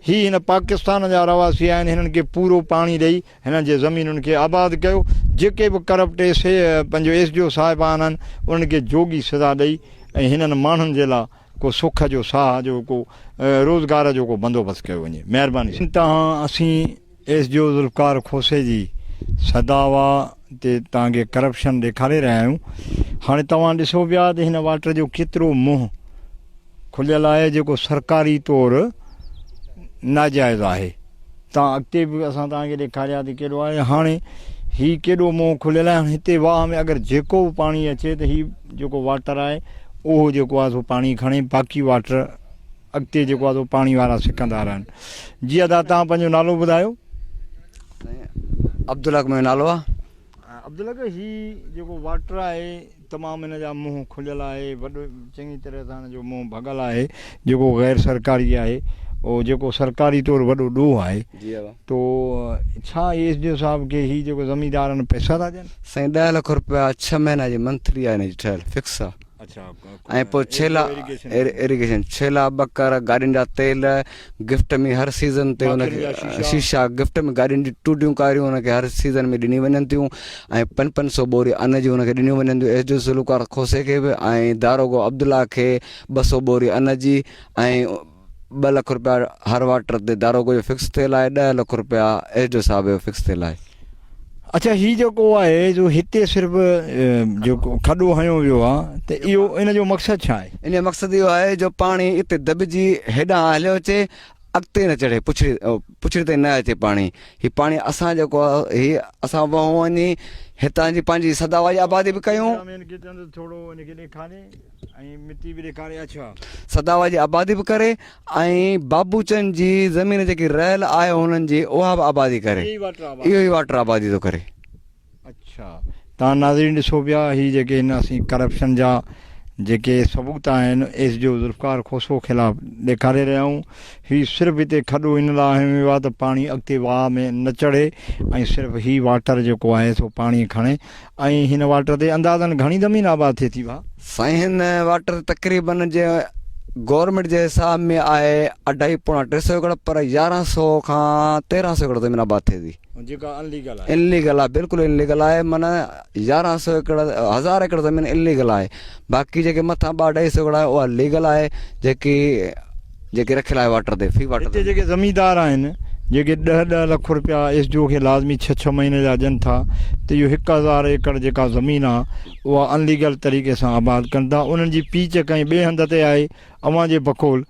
هي هن پاڪستان جا رهواسي آهن هنن کي پورو پاڻي ڏئي هنن جي زمينن کي آباد ڪيو جيڪي به ڪرپٽ ايس پنهنجو ايس ڊي او صاحب آهن انهن کي جوڳي سزا ڏئي ۽ هنن ماڻهن جي لاء ڪو سک جو ساهه جو ڪو روزگار جو ڪو بندوبست ڪيو وڃي مهرباني سان تان اسين ايس جي او ذوالفقار کوسي جي صدا وا تي توهان کي ڪرپشن ڏيکاري رهيا آهيون هاڻي توهان ڏسو پيا ته هن واٽر جو ڪيترو منهن کليل آهي جيڪو سرڪاري طور ناجائز آهي توهان اڳتي به اسان توهان کي ڏيکاريا ته ڪيڏو آهي هاڻي هي ڪيڏو منهن کليل آهي هتي واهه ۾ اگر جيڪو به پاڻي اچي ته هي جيڪو واٽر آهي اهو جيڪو آهي سو پاڻي کڻي باقي واٽر اڳتي جيڪو آهي سو پاڻي وارا سڪندا رهن. جي ادا توهان پنهنجو نالو ٻڌايو. سائين عبدالحق منهنجو نالو آ. عبدالحق هي جيڪو واٽر آهي تمام هن جا منهن کليل آهي وڏو چڱي طرح سان هن جو منهن ڀڳل آهي جيڪو غير سرڪاري آهي او جيڪو سرڪاري طور وڏو ڏوهه آهي جي ادا تو ڇا ايس ڊي او صاحب کي هي جيڪو زميندارن پئسا ٿا ڏين. سائين ڏهه لک روپيا ڇهه مهينا جي منٿلي آهي هن جي ٺهيل فڪس آ. ۽ پوء ڇيلا ايريگيشن ڇيلا ٻڪر گاڏين جا تيل گفٽ ۾ هر سيزن تي ان کي شيشا گفٽ ۾ گاڏين جي ٽوٽيون ڪاريون ان کي هر سيزن ۾ ڏني وڃن ٿيون ۽ پن پن سو بوري ان جي ان کي ڏنيون وڃن ٿيون ايس ڊي سلوڪار کوسي کي به ۽ داروغو عبدالله کي ٻه سو بوري ان جي ۽ ٻه لک رپيا هر واٽر تي داروغو جو فڪس ٿيل آهي ڏهه لک رپيا ايس ڊي او صاحب جو فڪس ٿيل آهي اچھا هي جيڪو آهي جو هتي صرف جو کڏو هنيو ويو آ ته اهو ان جو مقصد ڇا آهي ان جو مقصد اهو آهي جو پاڻي اتي دٻجي هيڏان هليو اچي اڳتي نه چڙهي پڇڙي پڇڙي تائين نه اچي پاڻي هي پاڻي اسان جيڪو هي اسان وهون وڃي هتان جي پنهنجي سدا واري آبادي به ڪيون ۽ مٽي به ڏيکاري اڇا. سداوا جي آبادي به ڪري ۽ بابوچن جي زمين جيڪي رهيل آهي هنن جي اها به آبادي ڪري اهو ئي واٽر آبادي ٿو ڪري. اڇا تان ناظرين ڏسو پيا هي جيڪي هن اسين ڪرپشن جا جيڪي ثبوت آهن S D O Zulfiqar Khoso خلاف ڏيکاري رهيا آهيون هي صرف هتي کڏو ان لاء هنيو ويو آهي ته پاڻي اڳتي واهه ۾ نه چڙهي ۽ صرف هي واٽر جيڪو آهي سو پاڻي کڻي ۽ هن واٽر تي اندازن گهڻي زمين آباد ٿئي ٿي ڀا. سائين هن واٽر تقريبن جي گورنمينٽ جي حساب ۾ آهي اڍائي پوڻا ٽي سو ايڪڙ پر يارهن سو کان تيرهن سو ايڪڙ زمين آباد ٿئي ٿي جيڪا ان ليگل آهي ان ليگل آهي بلڪل ان ليگل آهي معنيٰ يارهن سو ايڪڙ هزار ايڪڙ زمين ان ليگل آهي باقي جيڪي مٿان ٻه اڍائي سو ايڪڙ آهي اها ليگل آهي جيڪي جيڪي رکيل آهي واٽر تي في واٽر هتي جيڪي زميندار آهن جيڪي ڏهه ڏهه لک رپيا ايس جي او کي لازمي ڇهه ڇهه مهيني جا ڏين ٿا ته اهو هڪ هزار ايڪڙ جيڪا زمين آ اها ان ليگل طريقي سان آباد ڪن ٿا انهن جي پيچ ڪنهن ٻئي هنڌ تي آهي اوهان جي بقول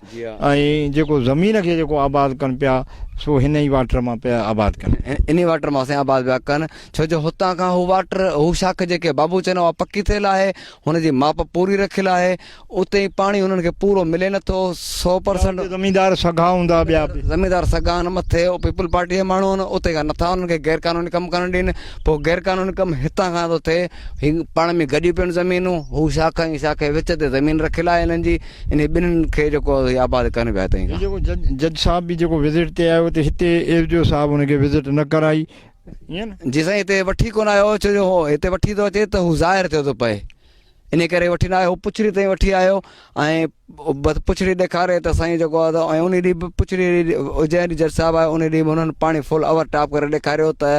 ۽ جيڪو زمين کي جيڪو آباد ڪن پيا سو هن ئي واٽر مان پيا آباد ڪن انهي واٽر مان سائين آباد پيا ڪن ڇو جو هتان کان هو واٽر هو شاخ جيڪي بابو چئنو اها پڪي ٿيل آهي هن جي ماپ پوري رکيل آهي اتي پاڻي انهن کي پورو ملي نه ٿو سو پرسنٽ زميندار سگها هوندا ٻيا به. زميندار سگها آهن مٿي او پيپلز پارٽي جا ماڻهو آهن اتي کان نٿا انهن کي غير قانوني ڪم ڪرڻ ڏين پوء غير قانوني ڪم هتان کان ٿو ٿئي هي پاڻ ۾ گڏيون پيون زمينون هو شاخ ۽ شاخ جي وچ تي زمين رکيل آهي هنن جي انهي ٻنهين کي جيڪو هي آباد ڪن پيا هتي کان. جيڪو جج جج صاحب به جيڪو وزٽ تي آيو ته هتي ايس ڊي او صاحب ان کي وزٽ نه ڪرائي ائين نه. جي سائين هتي وٺي ڪونه آيو ڇو جو هو هتي وٺي ٿو اچي ته هو ظاهر ٿيو ٿو پئي. انهيء ڪري وٺي نه آيو، پڇڙي تائين وٺي آيو ۽ بس پڇڙي ڏيکاري ته سائين جيڪو آهي ته انهي ڏينهن به پڇڙي جنهن ڏينهن جج صاحب آيو انهي ڏينهن به انهن پاڻي فل اوور ٽاپ ڪري ڏيکاريو ته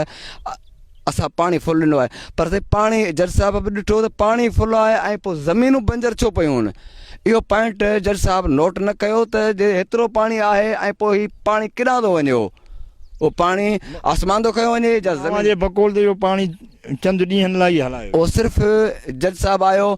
اسان پاڻي فل ڏنو آهي پر سائين پاڻي جج صاحب به ڏٺو ته پاڻي فل آهي ۽ پوء زمينون بنجر ڇو پيون آهن اهو پوائنٽ جج صاحب نوٽ نه ڪيو ته جي هيترو پاڻي آهي ۽ پوء هي پاڻي ڪيڏانهن ٿو وڃي اهو پاڻي آسمان ٿو کنيو وڃي يا زمين جي بقول تي اهو پاڻي چند ڏينهن لاء ئي هلايو. اهو صرف جج صاحب آيو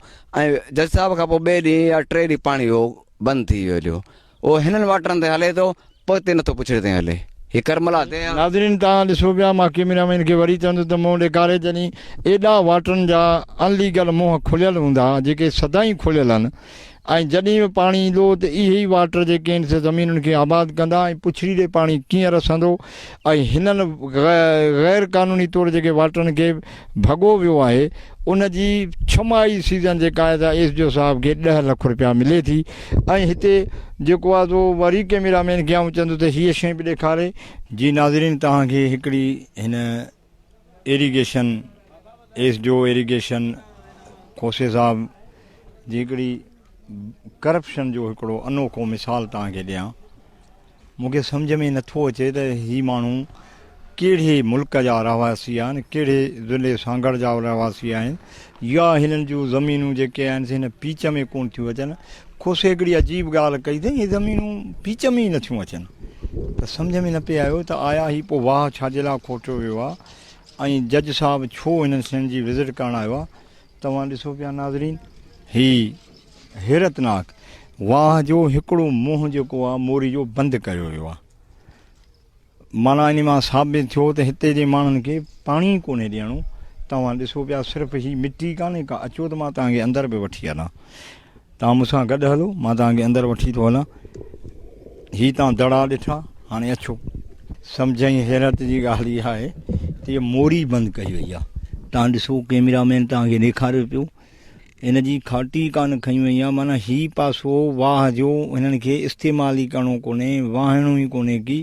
۽ جج صاحب کان پوء ٻئي ڏينهن يا ٽئين ڏينهن پاڻي اهو بند ٿي ويو جو اهو هنن واٽرن تي هلي ٿو پوء هتي نٿو پڇڙي تائين هلي هي ڪرملا تي ناظرين توهان ڏسو پيا مان ڪيميرا مين کي وري چوندس ته منهن ڏيکاري جڏهن ايڏا واٽرن جا ان ليگل منهن کليل هوندا جيڪي سدائين کليل هن ۽ جڏهن به پاڻي ايندو ته اهي ئي واٽر جيڪي ان سين زمينن کي آباد ڪندا ۽ پڇڙي ڏي پاڻي ڪيئن رسندو ۽ هنن غير قانوني طور جيڪي واٽرن کي ڀڳو ويو آهي ان جي ڇمائي سيزن جيڪا آهي سا ايس ڊي او صاحب کي ڏهه لک روپيا ملي ٿي ۽ هتي جيڪو آهي سو وري ڪيميرا مين کي آئون چوندس ته هيء شيء به ڏيکاري جي ناظرين توهان کي هڪڙي هن irrigation, S D O irrigation کوسي صاحب جي هڪڙي ڪرپشن جو هڪڙو انوکو مثال توهان کي ڏيان مون کي سمجهه ۾ نه ٿو اچي ته هي ماڻهو ڪهڙي ملڪ جا رهواسي آهن ڪهڙي ضلعي سانگهڙ جا رهواسي آهن يا هنن جون زمينون جيڪي آهن سي هن پيچ ۾ ڪونه ٿيون اچن. کوسي هڪڙي عجيب ڳالهه ڪئي ته اهي زمينون پيچ ۾ ئي نه ٿيون اچن ته سمجهه ۾ نه پئي آيو ته آيا هي پوء واهه ڇا جي لاء کوٽيو ويو آهي ۽ جج صاحب ڇو هنن شين جي وزٽ ڪرڻ آيو آهي. توهان ڏسو پيا ناظرين هي حيرتناڪ واهه جو هڪڙو منهن جيڪو آهي موري جو بند ڪيو ويو آهي. معنيٰ انهي مان ثابت ٿيو ته هتي جي ماڻهن کي پاڻي ئي ڪونهي ڏيڻو. توهان ڏسو پيا صرف هي مٽي ڪانهي ڪا اچو ته مان توهان کي اندر به وٺي هلان. توهان مون سان گڏ هلو مان توهان کي اندر وٺي ٿو هلان. هي توهان دڙا ڏٺا هاڻي اچو. سمجهه ۽ حيرت جي ڳالهه اها آهي ته هيء موري بند ڪئي وئي آهي. توهان ڏسو ڪيميرا مين توهان کي ڏيکاريو پيو. هن جي کاٽي ڪانه کنئي وئي آهي معنيٰ هي پاسو واهه جو هنن کي استعمال ئي ڪرڻو ڪونهي واهڻو ئي ڪونهي ڪي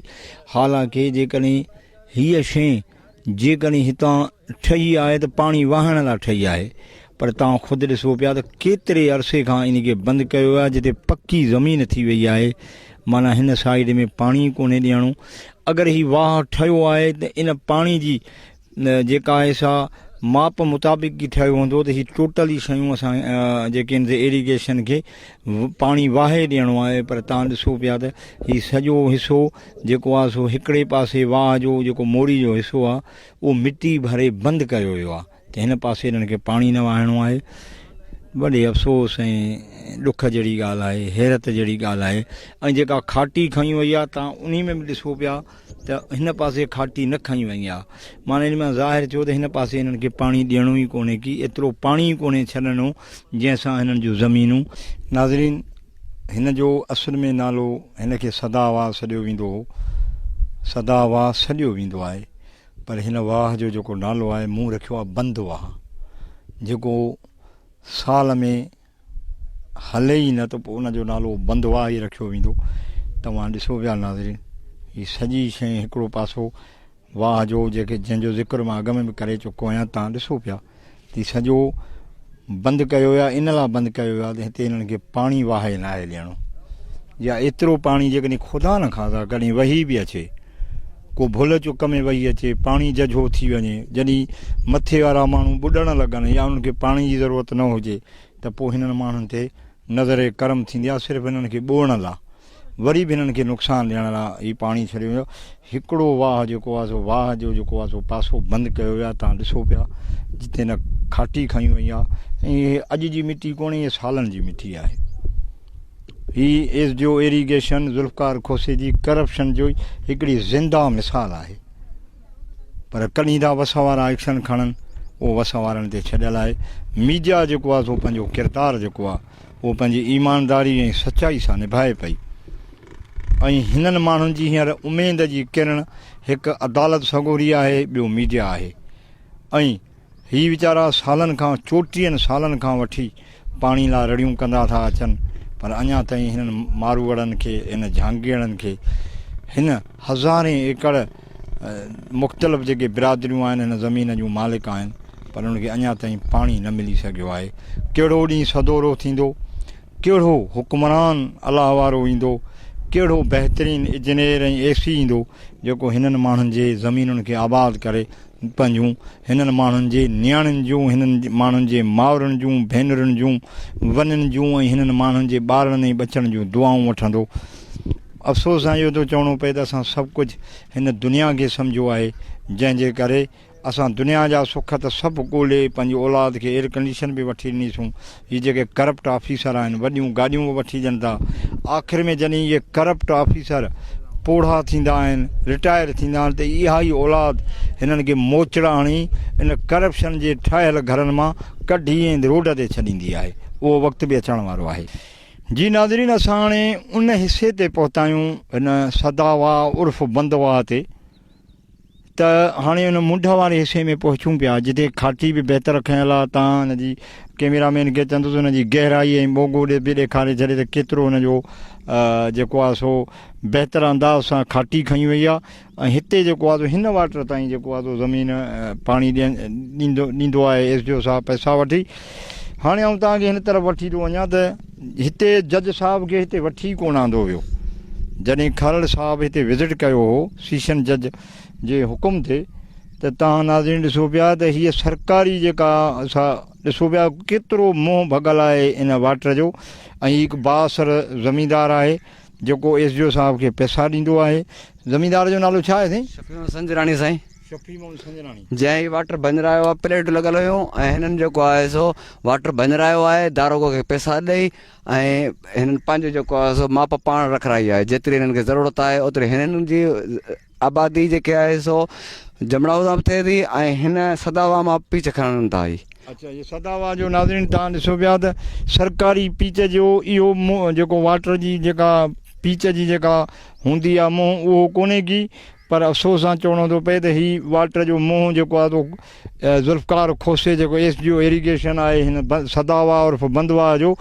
حالانڪه جيڪڏهن هيء شيء جيڪڏهن هتان ٺهي آهي ته پاڻي واهڻ لاء ٺهي آهي پر توهان خود ڏسو پيا ته ڪيتري عرصي کان ان کي بند ڪيو آهي جتي پڪي زمين ٿي وئي آهي معنيٰ هن سائيڊ ۾ پاڻي ڪونهي ڏيڻو اگر هي واهه ٺهيو آهي ته ان پاڻي جي جيڪا آهي سا ماپ مطابق ئي ٺهيو هوندو ته هي ٽوٽل ئي شيون اسان جيڪي آهن سي ايريگيشن کي پاڻي واهي ڏيڻو آهي پر تان ڏسو پيا ته هي سڄو حصو جيڪو آهي سو هڪڙي پاسي واهه جو جيڪو موري جو حصو آهي اهو مٽي ڀري بند ڪيو ويو آهي ته هن پاسي هنن کي پاڻي نه واهڻو آهي وڏي افسوس ۽ ڏک جهڙي ڳالهه آهي حيرت جهڙي ڳالهه آهي ۽ جيڪا کاٽي کڻي وئي آهي تان انهي ۾ به ڏسو پيا ته هن پاسي کاٽي نه کنئي وئي آ. معنيٰ ان مان ظاهر ٿيو ته هن پاسي هنن کي پاڻي ڏيڻو ئي ڪونهي ڪي ايترو پاڻي ئي ڪونهي ڇڏڻو جنهن سان هنن جون زمينون ناظرين هن جو اصل ۾ نالو هن کي سدا واهه سڏيو ويندو هو سدا واهه سڏيو ويندو آهي پر هن واهه جو جيڪو نالو آهي مون رکيو آهي بند واهه جيڪو سال ۾ هلي ئي نه ته پوء ان جو نالو بندواهه ئي رکيو ويندو. توهان ڏسو پيا ناظرين هي سڄي شيء هڪڙو پاسو واهه جو جيڪي جنهن جو ذڪر مان اڳ ۾ به ڪري چڪو آهيان تان ڏسو پيا ته سڄو بند ڪيو ويو آهي ان لا بند ڪيو ويو آهي ته هتي انهن کي پاڻي واهه ناهي ڏيڻو يا ايترو پاڻي جيڪڏهن خدا نه خاصا ڪڏهن وهي به اچي ڪو ڀل چڪ ۾ وهي اچي پاڻي ججهو ٿي وڃي جڏهن مٿي وارا ماڻهو ٻڏڻ لڳن يا انهن کي پاڻي جي ضرورت نه هجي ته پوء هنن ماڻهن تي نظر ڪرم ٿيندي آهي صرف هنن کي ٻوڙڻ لا وري به هنن کي نقصان ڏيڻ لا هي پاڻي ڇڏيو ويو هڪڙو واهه جيڪو آهي سو واهه جو جيڪو آهي سو پاسو بند ڪيو ويو آهي تان ڏسو پيا جتي نه کاٽي کڻي وئي آهي ۽ اڄ جي مٽي ڪونهي سالن جي مٽي آهي هي S G O irrigation Zulfiqar کوسي جي ڪرپشن جو هڪڙي زنده مثال آهي پر ڪڏهن ٿا وس وارا ايڪشن کڻن اهو وس وارن تي ڇڏيل آهي ميڊيا جيڪو آهي سو پنهنجو ڪردار جيڪو آهي اهو پنهنجي ايمانداري ۽ سچائي سان نڀائي پئي ۽ هنن ماڻهن جي هينئر اميد جي ڪرڻ هڪ عدالت سڳوري آهي ٻيو ميڊيا آهي ۽ هي ويچارا سالن کان چوٽيهن سالن کان وٺي پاڻي لا رڙيون ڪندا ٿا اچن پر اڃا تائين هنن ماروئڙن کي هن جهانگيئڙن کي هن هزارين ايڪڙ مختلف جيڪي برادريون آهن هن زمين جون مالڪ آهن پر ان کي اڃا تائين پاڻي نه ملي سگهيو آهي ڪهڙو ڏينهن سدورو ٿيندو ڪهڙو حڪمران الله وارو ايندو ڪهڙو بهترين اجنيئر ۽ اي سي ايندو جيڪو هنن ماڻهن جي زمينن کي آباد ڪري پنهنجون هنن ماڻهن جي نياڻين جون، هنن ماڻهن جي مائرن جون، ڀينرن جون، ونين جون ۽ هنن ماڻهن جي ٻارڙن ۽ ٻچڙن جون دعائون وٺندو. افسوس سان اهو ٿو چوڻو پئي ته اسان سڀ ڪجهه هن دنيا کي سمجهيو آهي، جنهن جي ڪري اسان دنيا جا سک ته سڀ ڳولي پنهنجي اولاد کي ايئر ڪنڊيشن به وٺي ڏنيسون هي جيڪي ڪرپٽ آفيسر آهن وڏيون گاڏيون به وٺي ڏين ٿا آخر ۾ جڏهن اهي ڪرپٽ آفيسر پوڙها ٿيندا آهن رٽائر ٿيندا آهن ته اها ئي اولاد هنن کي موچڙا هڻي ان ڪرپشن جي ٺاهيل گهرن مان ڪڍي ۽ روڊ تي ڇڏيندي آهي اهو وقت به اچڻ وارو آهي. جي ناظرين اسان هاڻي ان حصي تي پهتا آهيون هن سداواهه عرف بندواهه تي. ته هاڻي ان منڍ واري حصي ۾ پهچون پيا جتي کاٽي به بهتر کنيل آهي تان هن جي ڪيميرا مين کي چوندس ان جي گهرائي ۽ ٻوڳو ڏي به ڏيکاري ڇڏي ته ڪيترو ان جو جيڪو آهي سو بهتر انداز سان کاٽي کڻي وئي آهي ۽ هتي جيڪو آهي هن واٽر تائين جيڪو آهي زمين پاڻي ڏيندو ڏيندو آهي ايس ڊي او صاحب پئسا وٺي هاڻي آئون تان کي هن طرف وٺي ٿو وڃان ته هتي جج صاحب کي هتي وٺي ڪونه آندو ويو جڏهن کهرڙ صاحب هتي وزٽ ڪيو هو سيشن جج جي حڪم تي ته تان ناظرين ڏسو پيا ته هيء سرڪاري جيڪا سا ڏسو پيا ڪيترو منهن ڀڳل آهي ان واٽر جو ۽ هڪ بااثر زميندار آهي جيڪو ايس ڊي او صاحب کي پئسا ڏيندو آهي زميندار جو نالو ڇا آهي سائين شفيع حسن جراڻي سائين جنهن هي واٽر ڀڃرايو آهي پليٽون لڳل هيون ۽ هنن جيڪو آهي سو واٽر ڀڃرايو آهي داروغو کي پئسا ڏئي ۽ هنن پنهنجو جيڪو آهي سو ماپ پاڻ رکرائي آهي جيتري هنن کي ضرورت آهي اوتري هنن جي آبادي جيڪي آهي سو جمڙائو سان به ٿئي ٿي ۽ هن سداوا مان پيچ کڻن ٿا هي اچھا هي سداوا جو ناظرين تان ڏسو پيا ته سرڪاري پيچ جو اهو جيڪو واٽر جي جيڪا پيچ جي جيڪا هوندي آهي منهن اهو ڪونهي ڪي پر افسوس سان چوڻو ٿو پئي ته هي واٽر جو منهن جيڪو آهي سو ذوالفقار کوسي جيڪو ايس ڊي او ايريگيشن آهي هن سداوا عرف بندوا جو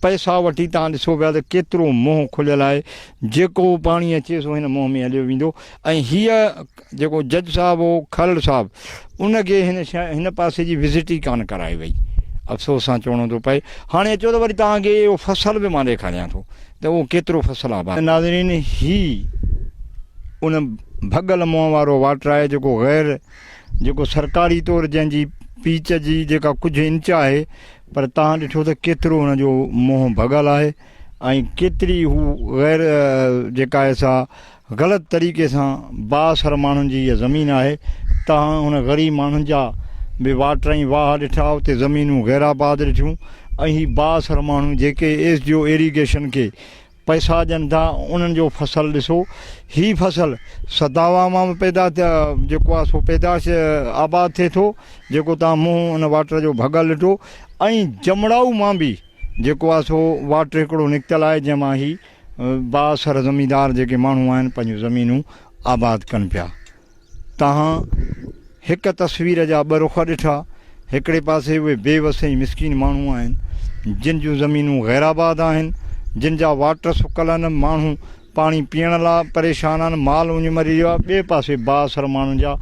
پئسا وٺي تان ڏسو پيا ته ڪيترو منهن کليل آهي جيڪو پاڻي اچي سو هن منهن ۾ هليو ويندو ۽ هيء جيڪو جج صاحب هو کهڙ صاحب ان کي هن هن پاسي جي وزٽ ئي ڪانه ڪرائي وئي افسوس سان چوڻو ٿو پئي هاڻي اچو ته وري توهان کي اهو فصل به مان ڏيکاريان ٿو ته اهو ڪيترو فصل آباد. ناظرين هي ان ڀڳل منهن وارو واٽر آهي جيڪو غير جيڪو سرڪاري طور جنهن جي پيچ جي جيڪا ڪجهه انچ آهي پر تهان ڏٺو ته ڪيترو ان جو منهن ڀڳل آهي ۽ ڪيتري هو غير جيڪا آهي سا غلط طريقي سان بااثر ماڻهن جي اها زمين آهي تهان هن غريب ماڻهن جا به واٽر ۽ واهه ڏٺا اتي زمينون غير آباد ڏٺيون ۽ هي بااثر ماڻهو جيڪي ايس جي او ايريگيشن کي پئسا ڏين ٿا انهن جو فصل ڏسو هي فصل سداوا مان به پيدا جيڪو آهي سو پيداش آباد ٿئي ٿو جيڪو تهان منهن ان واٽر جو ڀڳل ڏٺو ۽ جمڙائو مان به جيڪو آهي سو واٽر هڪڙو نڪتل آهي جنهن مان هي بااثر زميندار جيڪي ماڻهو آهن پنهنجون زمينون آباد ڪن پيا تهان هڪ تصوير جا ٻه رخ ڏٺا هڪڙي پاسي اهي بي وس ۽ مسڪين ماڻهو آهن جن جون زمينون غير آباد آهن جن جا واٽر سڪل آهن ماڻهو پاڻي پيئڻ لاء پريشان آهن مال اڃ مري ويو آهي ٻئي پاسي بااثر ماڻهن جا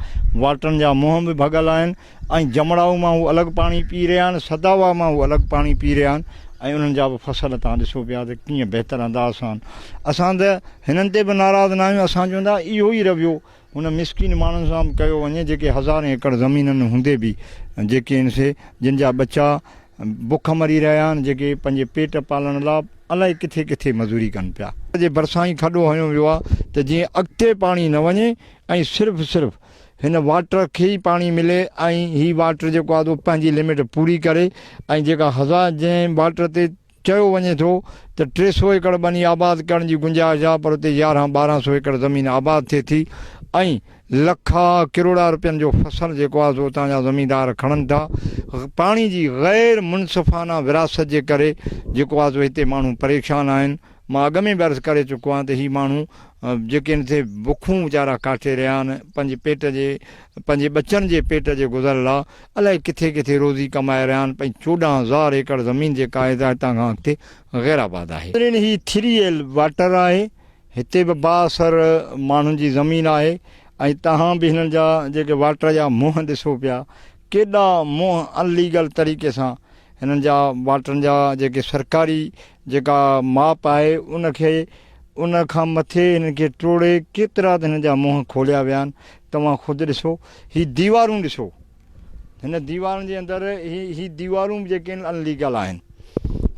واٽرن جا منهن به ڀڳل آهن ۽ جمڙائو مان هو الڳ پاڻي پي رهيا آهن، سداوا مان هو الڳ پاڻي پي رهيا آهن ۽ انهن جا به فصل تان ڏسو پيا ته ڪيئن بهتر انداز سان اسان ته هنن تي به ناراض ناهيون اسان چون ٿا اهو ئي رويو هن مسڪين ماڻهن سان به ڪيو وڃي جيڪي هزارين ايڪڙ زمينن هوندي به جيڪي ان سي جن جا ٻچا بک مري رهيا آهن جيڪي پنهنجي پيٽ پالڻ لا الائي ڪٿي ڪٿي مزوري ڪن پيا. جي ڀرسان ئي کڏو هنيو ويو آهي ته جيئن اڳتي پاڻي نه وڃي ۽ صرف صرف. هن واٽر کي ئي پاڻي ملي ۽ هي واٽر جيڪو آهي سو پنهنجي لمٽ پوري ڪري ۽ جيڪا هزا جنهن واٽر تي چيو وڃي ٿو ته ٽي سو ايڪڙ ٻني آباد ڪرڻ جي گنجائش آهي پر اتي يارهن ٻارهن سو ايڪڙ زمين آباد ٿئي ٿي ۽ لکا ڪروڙا رپين جو فصل جيڪو آهي سو اتان جا زميندار کڻن ٿا پاڻي جي غير منصفانه ورهاست جي ڪري جيڪو آهي سو هتي ماڻهو پريشان آهن مان اڳ ۾ به عرض ڪري چڪو آهيان ته هي ماڻهو جيڪي هن تي بکون ويچارا ڪاٽي رهيا آهن پنهنجي پيٽ جي پنهنجي ٻچن جي پيٽ جي گذر لا الائي ڪٿي ڪٿي روزي ڪمائي رهيا آهن پنهنجي چوڏهن هزار ايڪڙ زمين جيڪا آهي سا هتان کان اڳتي غير آباد آهي. پرين هي ٿري ايل واٽر آهي هتي به با اثر ماڻهن جي زمين آهي ۽ تهان به هنن جا جيڪي واٽر جا منهن ڏسو پيا ڪيڏا منهن ان ليگل طريقي سان هنن جا واٽرن جا جيڪي سرڪاري جيڪا ماپ آهي ان کي ان کان مٿي هنن کي ٽوڙي ڪيترا ته هنن جا منهن کوليا ويا آهن توهان خود ڏسو هي ديوارون ڏسو هن ديوارن جي اندر هي هي ديوارون جيڪي ان ليگل آهن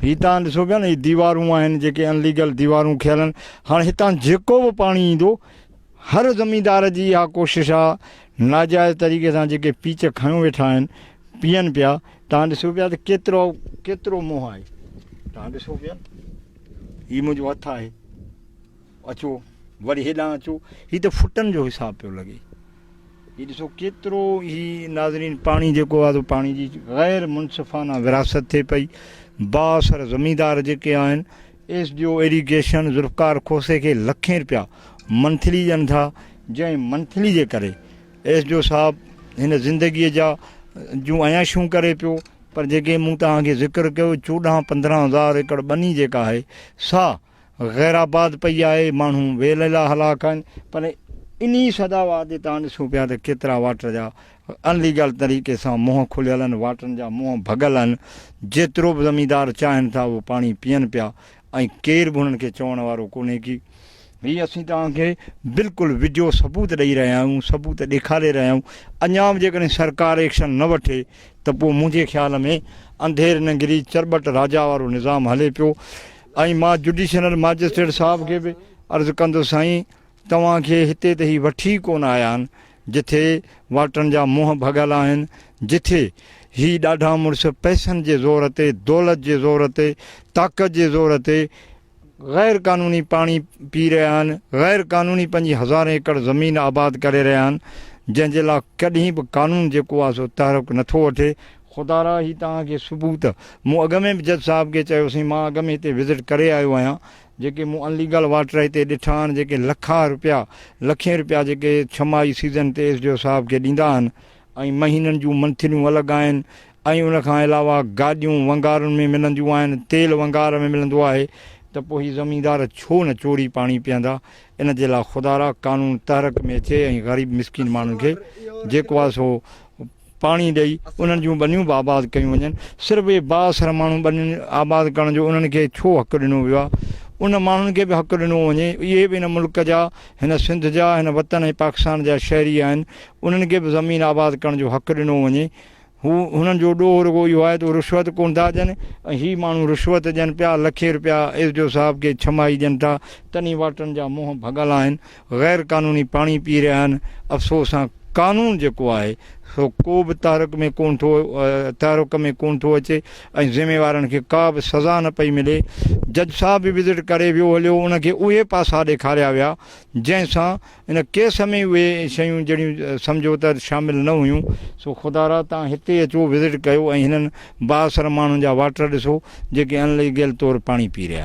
هي تان ڏسو پيا نه هي ديوارون آهن جيڪي ان ليگل ديوارون کيلن هاڻ هتان جيڪو به پاڻي ايندو هر زميندار جي اها ڪوشش آ ناجائز طريقي سان جيڪي پيچ کنيو ويٺا آهن پيئن پيا تهان ڏسو پيا ته ڪيترو ڪيترو منهن آهي تهان ڏسو پيا هي منهنجو هٿ آهي اچو وري هيڏان اچو هي ته فٽن جو حساب پيو لڳي هي ڏسو ڪيترو هي ناظرين پاڻي جيڪو آهي پاڻي جي غير منصفانه وراثت ٿئي پئي بااثر زميندار جيڪي آهن S D O irrigation Zulfiqar کوسي کي لکين رپيا منٿلي ڏين ٿا جنهن منٿلي جي ڪري ايس ڊي او صاحب هن زندگي جا جون عياشون ڪري پيو پر جيڪي مون توهان کي ذڪر ڪيو چوڏهن پندرهن هزار ايڪڙ ٻني جيڪا آهي سا غيرآباد پئي آهي ماڻهو ويلهيلا هلاڪ آهن پر انهي سداوار تي توهان ڏسو پيا ته ڪيترا واٽر جا ان ليگل طريقي سان منهن کليل ان واٽرن جا منهن ڀڳل آهن جيترو به زميندار چاهين ٿا اهو پاڻي پيئن پيا ۽ ڪير به انهن کي چوڻ وارو ڪونهي ڪي هي اسين توهان کي بلڪل وڊيو ثبوت ڏئي رهيا آهيون ثبوت ڏيکاري رهيا آهيون اڃا به جيڪڏهن سرڪار ايڪشن نه وٺي ته پوء منهنجي خيال ۾ انڌير ننگري چرٻٽ راجا وارو نظام هلي پيو ۽ مان جڊيشنل ماجسٽريٽ صاحب کي به عرض ڪندس سائين توهان کي هتي ته هي وٺي ئي ڪونه آيا آهن، جٿي واٽرن جا منهن ڀڳل آهن، جٿي هي ڏاڍا مڙس پئسن جي زور تي، دولت جي زور تي، طاقت جي زور تي غير قانوني پاڻي پي رهيا آهن، غير قانوني پنهنجي هزارين ايڪڙ زمين آباد ڪري رهيا آهن، جنهن جي لا ڪڏهن به قانون جيڪو آهي سو تحرڪ نٿو وٺي. خدا را هي توهان کي ثبوت مون اڳ ۾ به جج صاحب کي چيو سين، مان اڳ ۾ هتي وزٽ ڪري آيو آهيان، جيڪي مون ان ليگل واٽر هتي ڏٺا آهن جيڪي لکان روپيا لکين روپيا جيڪي ڇمائي سيزن تي ايس ڊي او صاحب کي ڏيندا آهن ۽ مهينن جون منٿليون الڳ آهن ۽ ان کان علاوه گاڏيون ونگارن ۾ ملنديون آهن تيل ونگار ۾ ملندو آهي ته پوء هي زميندار ڇو نه چوري پاڻي پيئندا ان جي لاء خدارا قانون تحرڪ ۾ اچي ۽ غريب مسڪين ماڻهن کي جيڪو آهي سو پاڻي ڏئي انهن جون ٻنيون به آباد ڪيون وڃن، صرف اهي بااثر ماڻهو ٻنين آباد ڪرڻ جو انهن کي ڇو حق ڏنو ويو آهي؟ انهن ماڻهن کي به حق ڏنو وڃي، اهي به هن ملڪ جا، هن سنڌ جا، هن وطن ۽ پاڪستان جا شهري آهن، انهن کي به زمين آباد ڪرڻ جو حق ڏنو وڃي، هو هنن جو ڏوهه رڳو اهو آهي ته هو رشوت ڪونه ٿا ڏين ۽ هي ماڻهو رشوت ڏين پيا، لکين رپيا ايس ڊي او صاحب کي ڇمائي ڏين ٿا، تنهن وارٽن جا منهن ڀڳل آهن، غير قانوني پاڻي پي رهيا آهن افسوس سان قانون جيڪو آهي سو ڪو به تحرڪ ۾ ڪون ٿو تحرڪ ۾ ڪون ٿو اچي ۽ ذميوارن کي ڪا به سزا نه پئي ملي جج صاحب به وزٽ ڪري ويو هليو ان کي اهي پاسا ڏيکاريا ويا جنهن سان ان ڪيس ۾ اهي شيون جهڙيون سمجهو ته شامل نه هيون سو خدا را تان هتي اچو وزٽ ڪيو ۽ هنن بااثر ماڻهن جا واٽر ڏسو جيڪي ان ليگل طور پاڻي پي رهيا آهن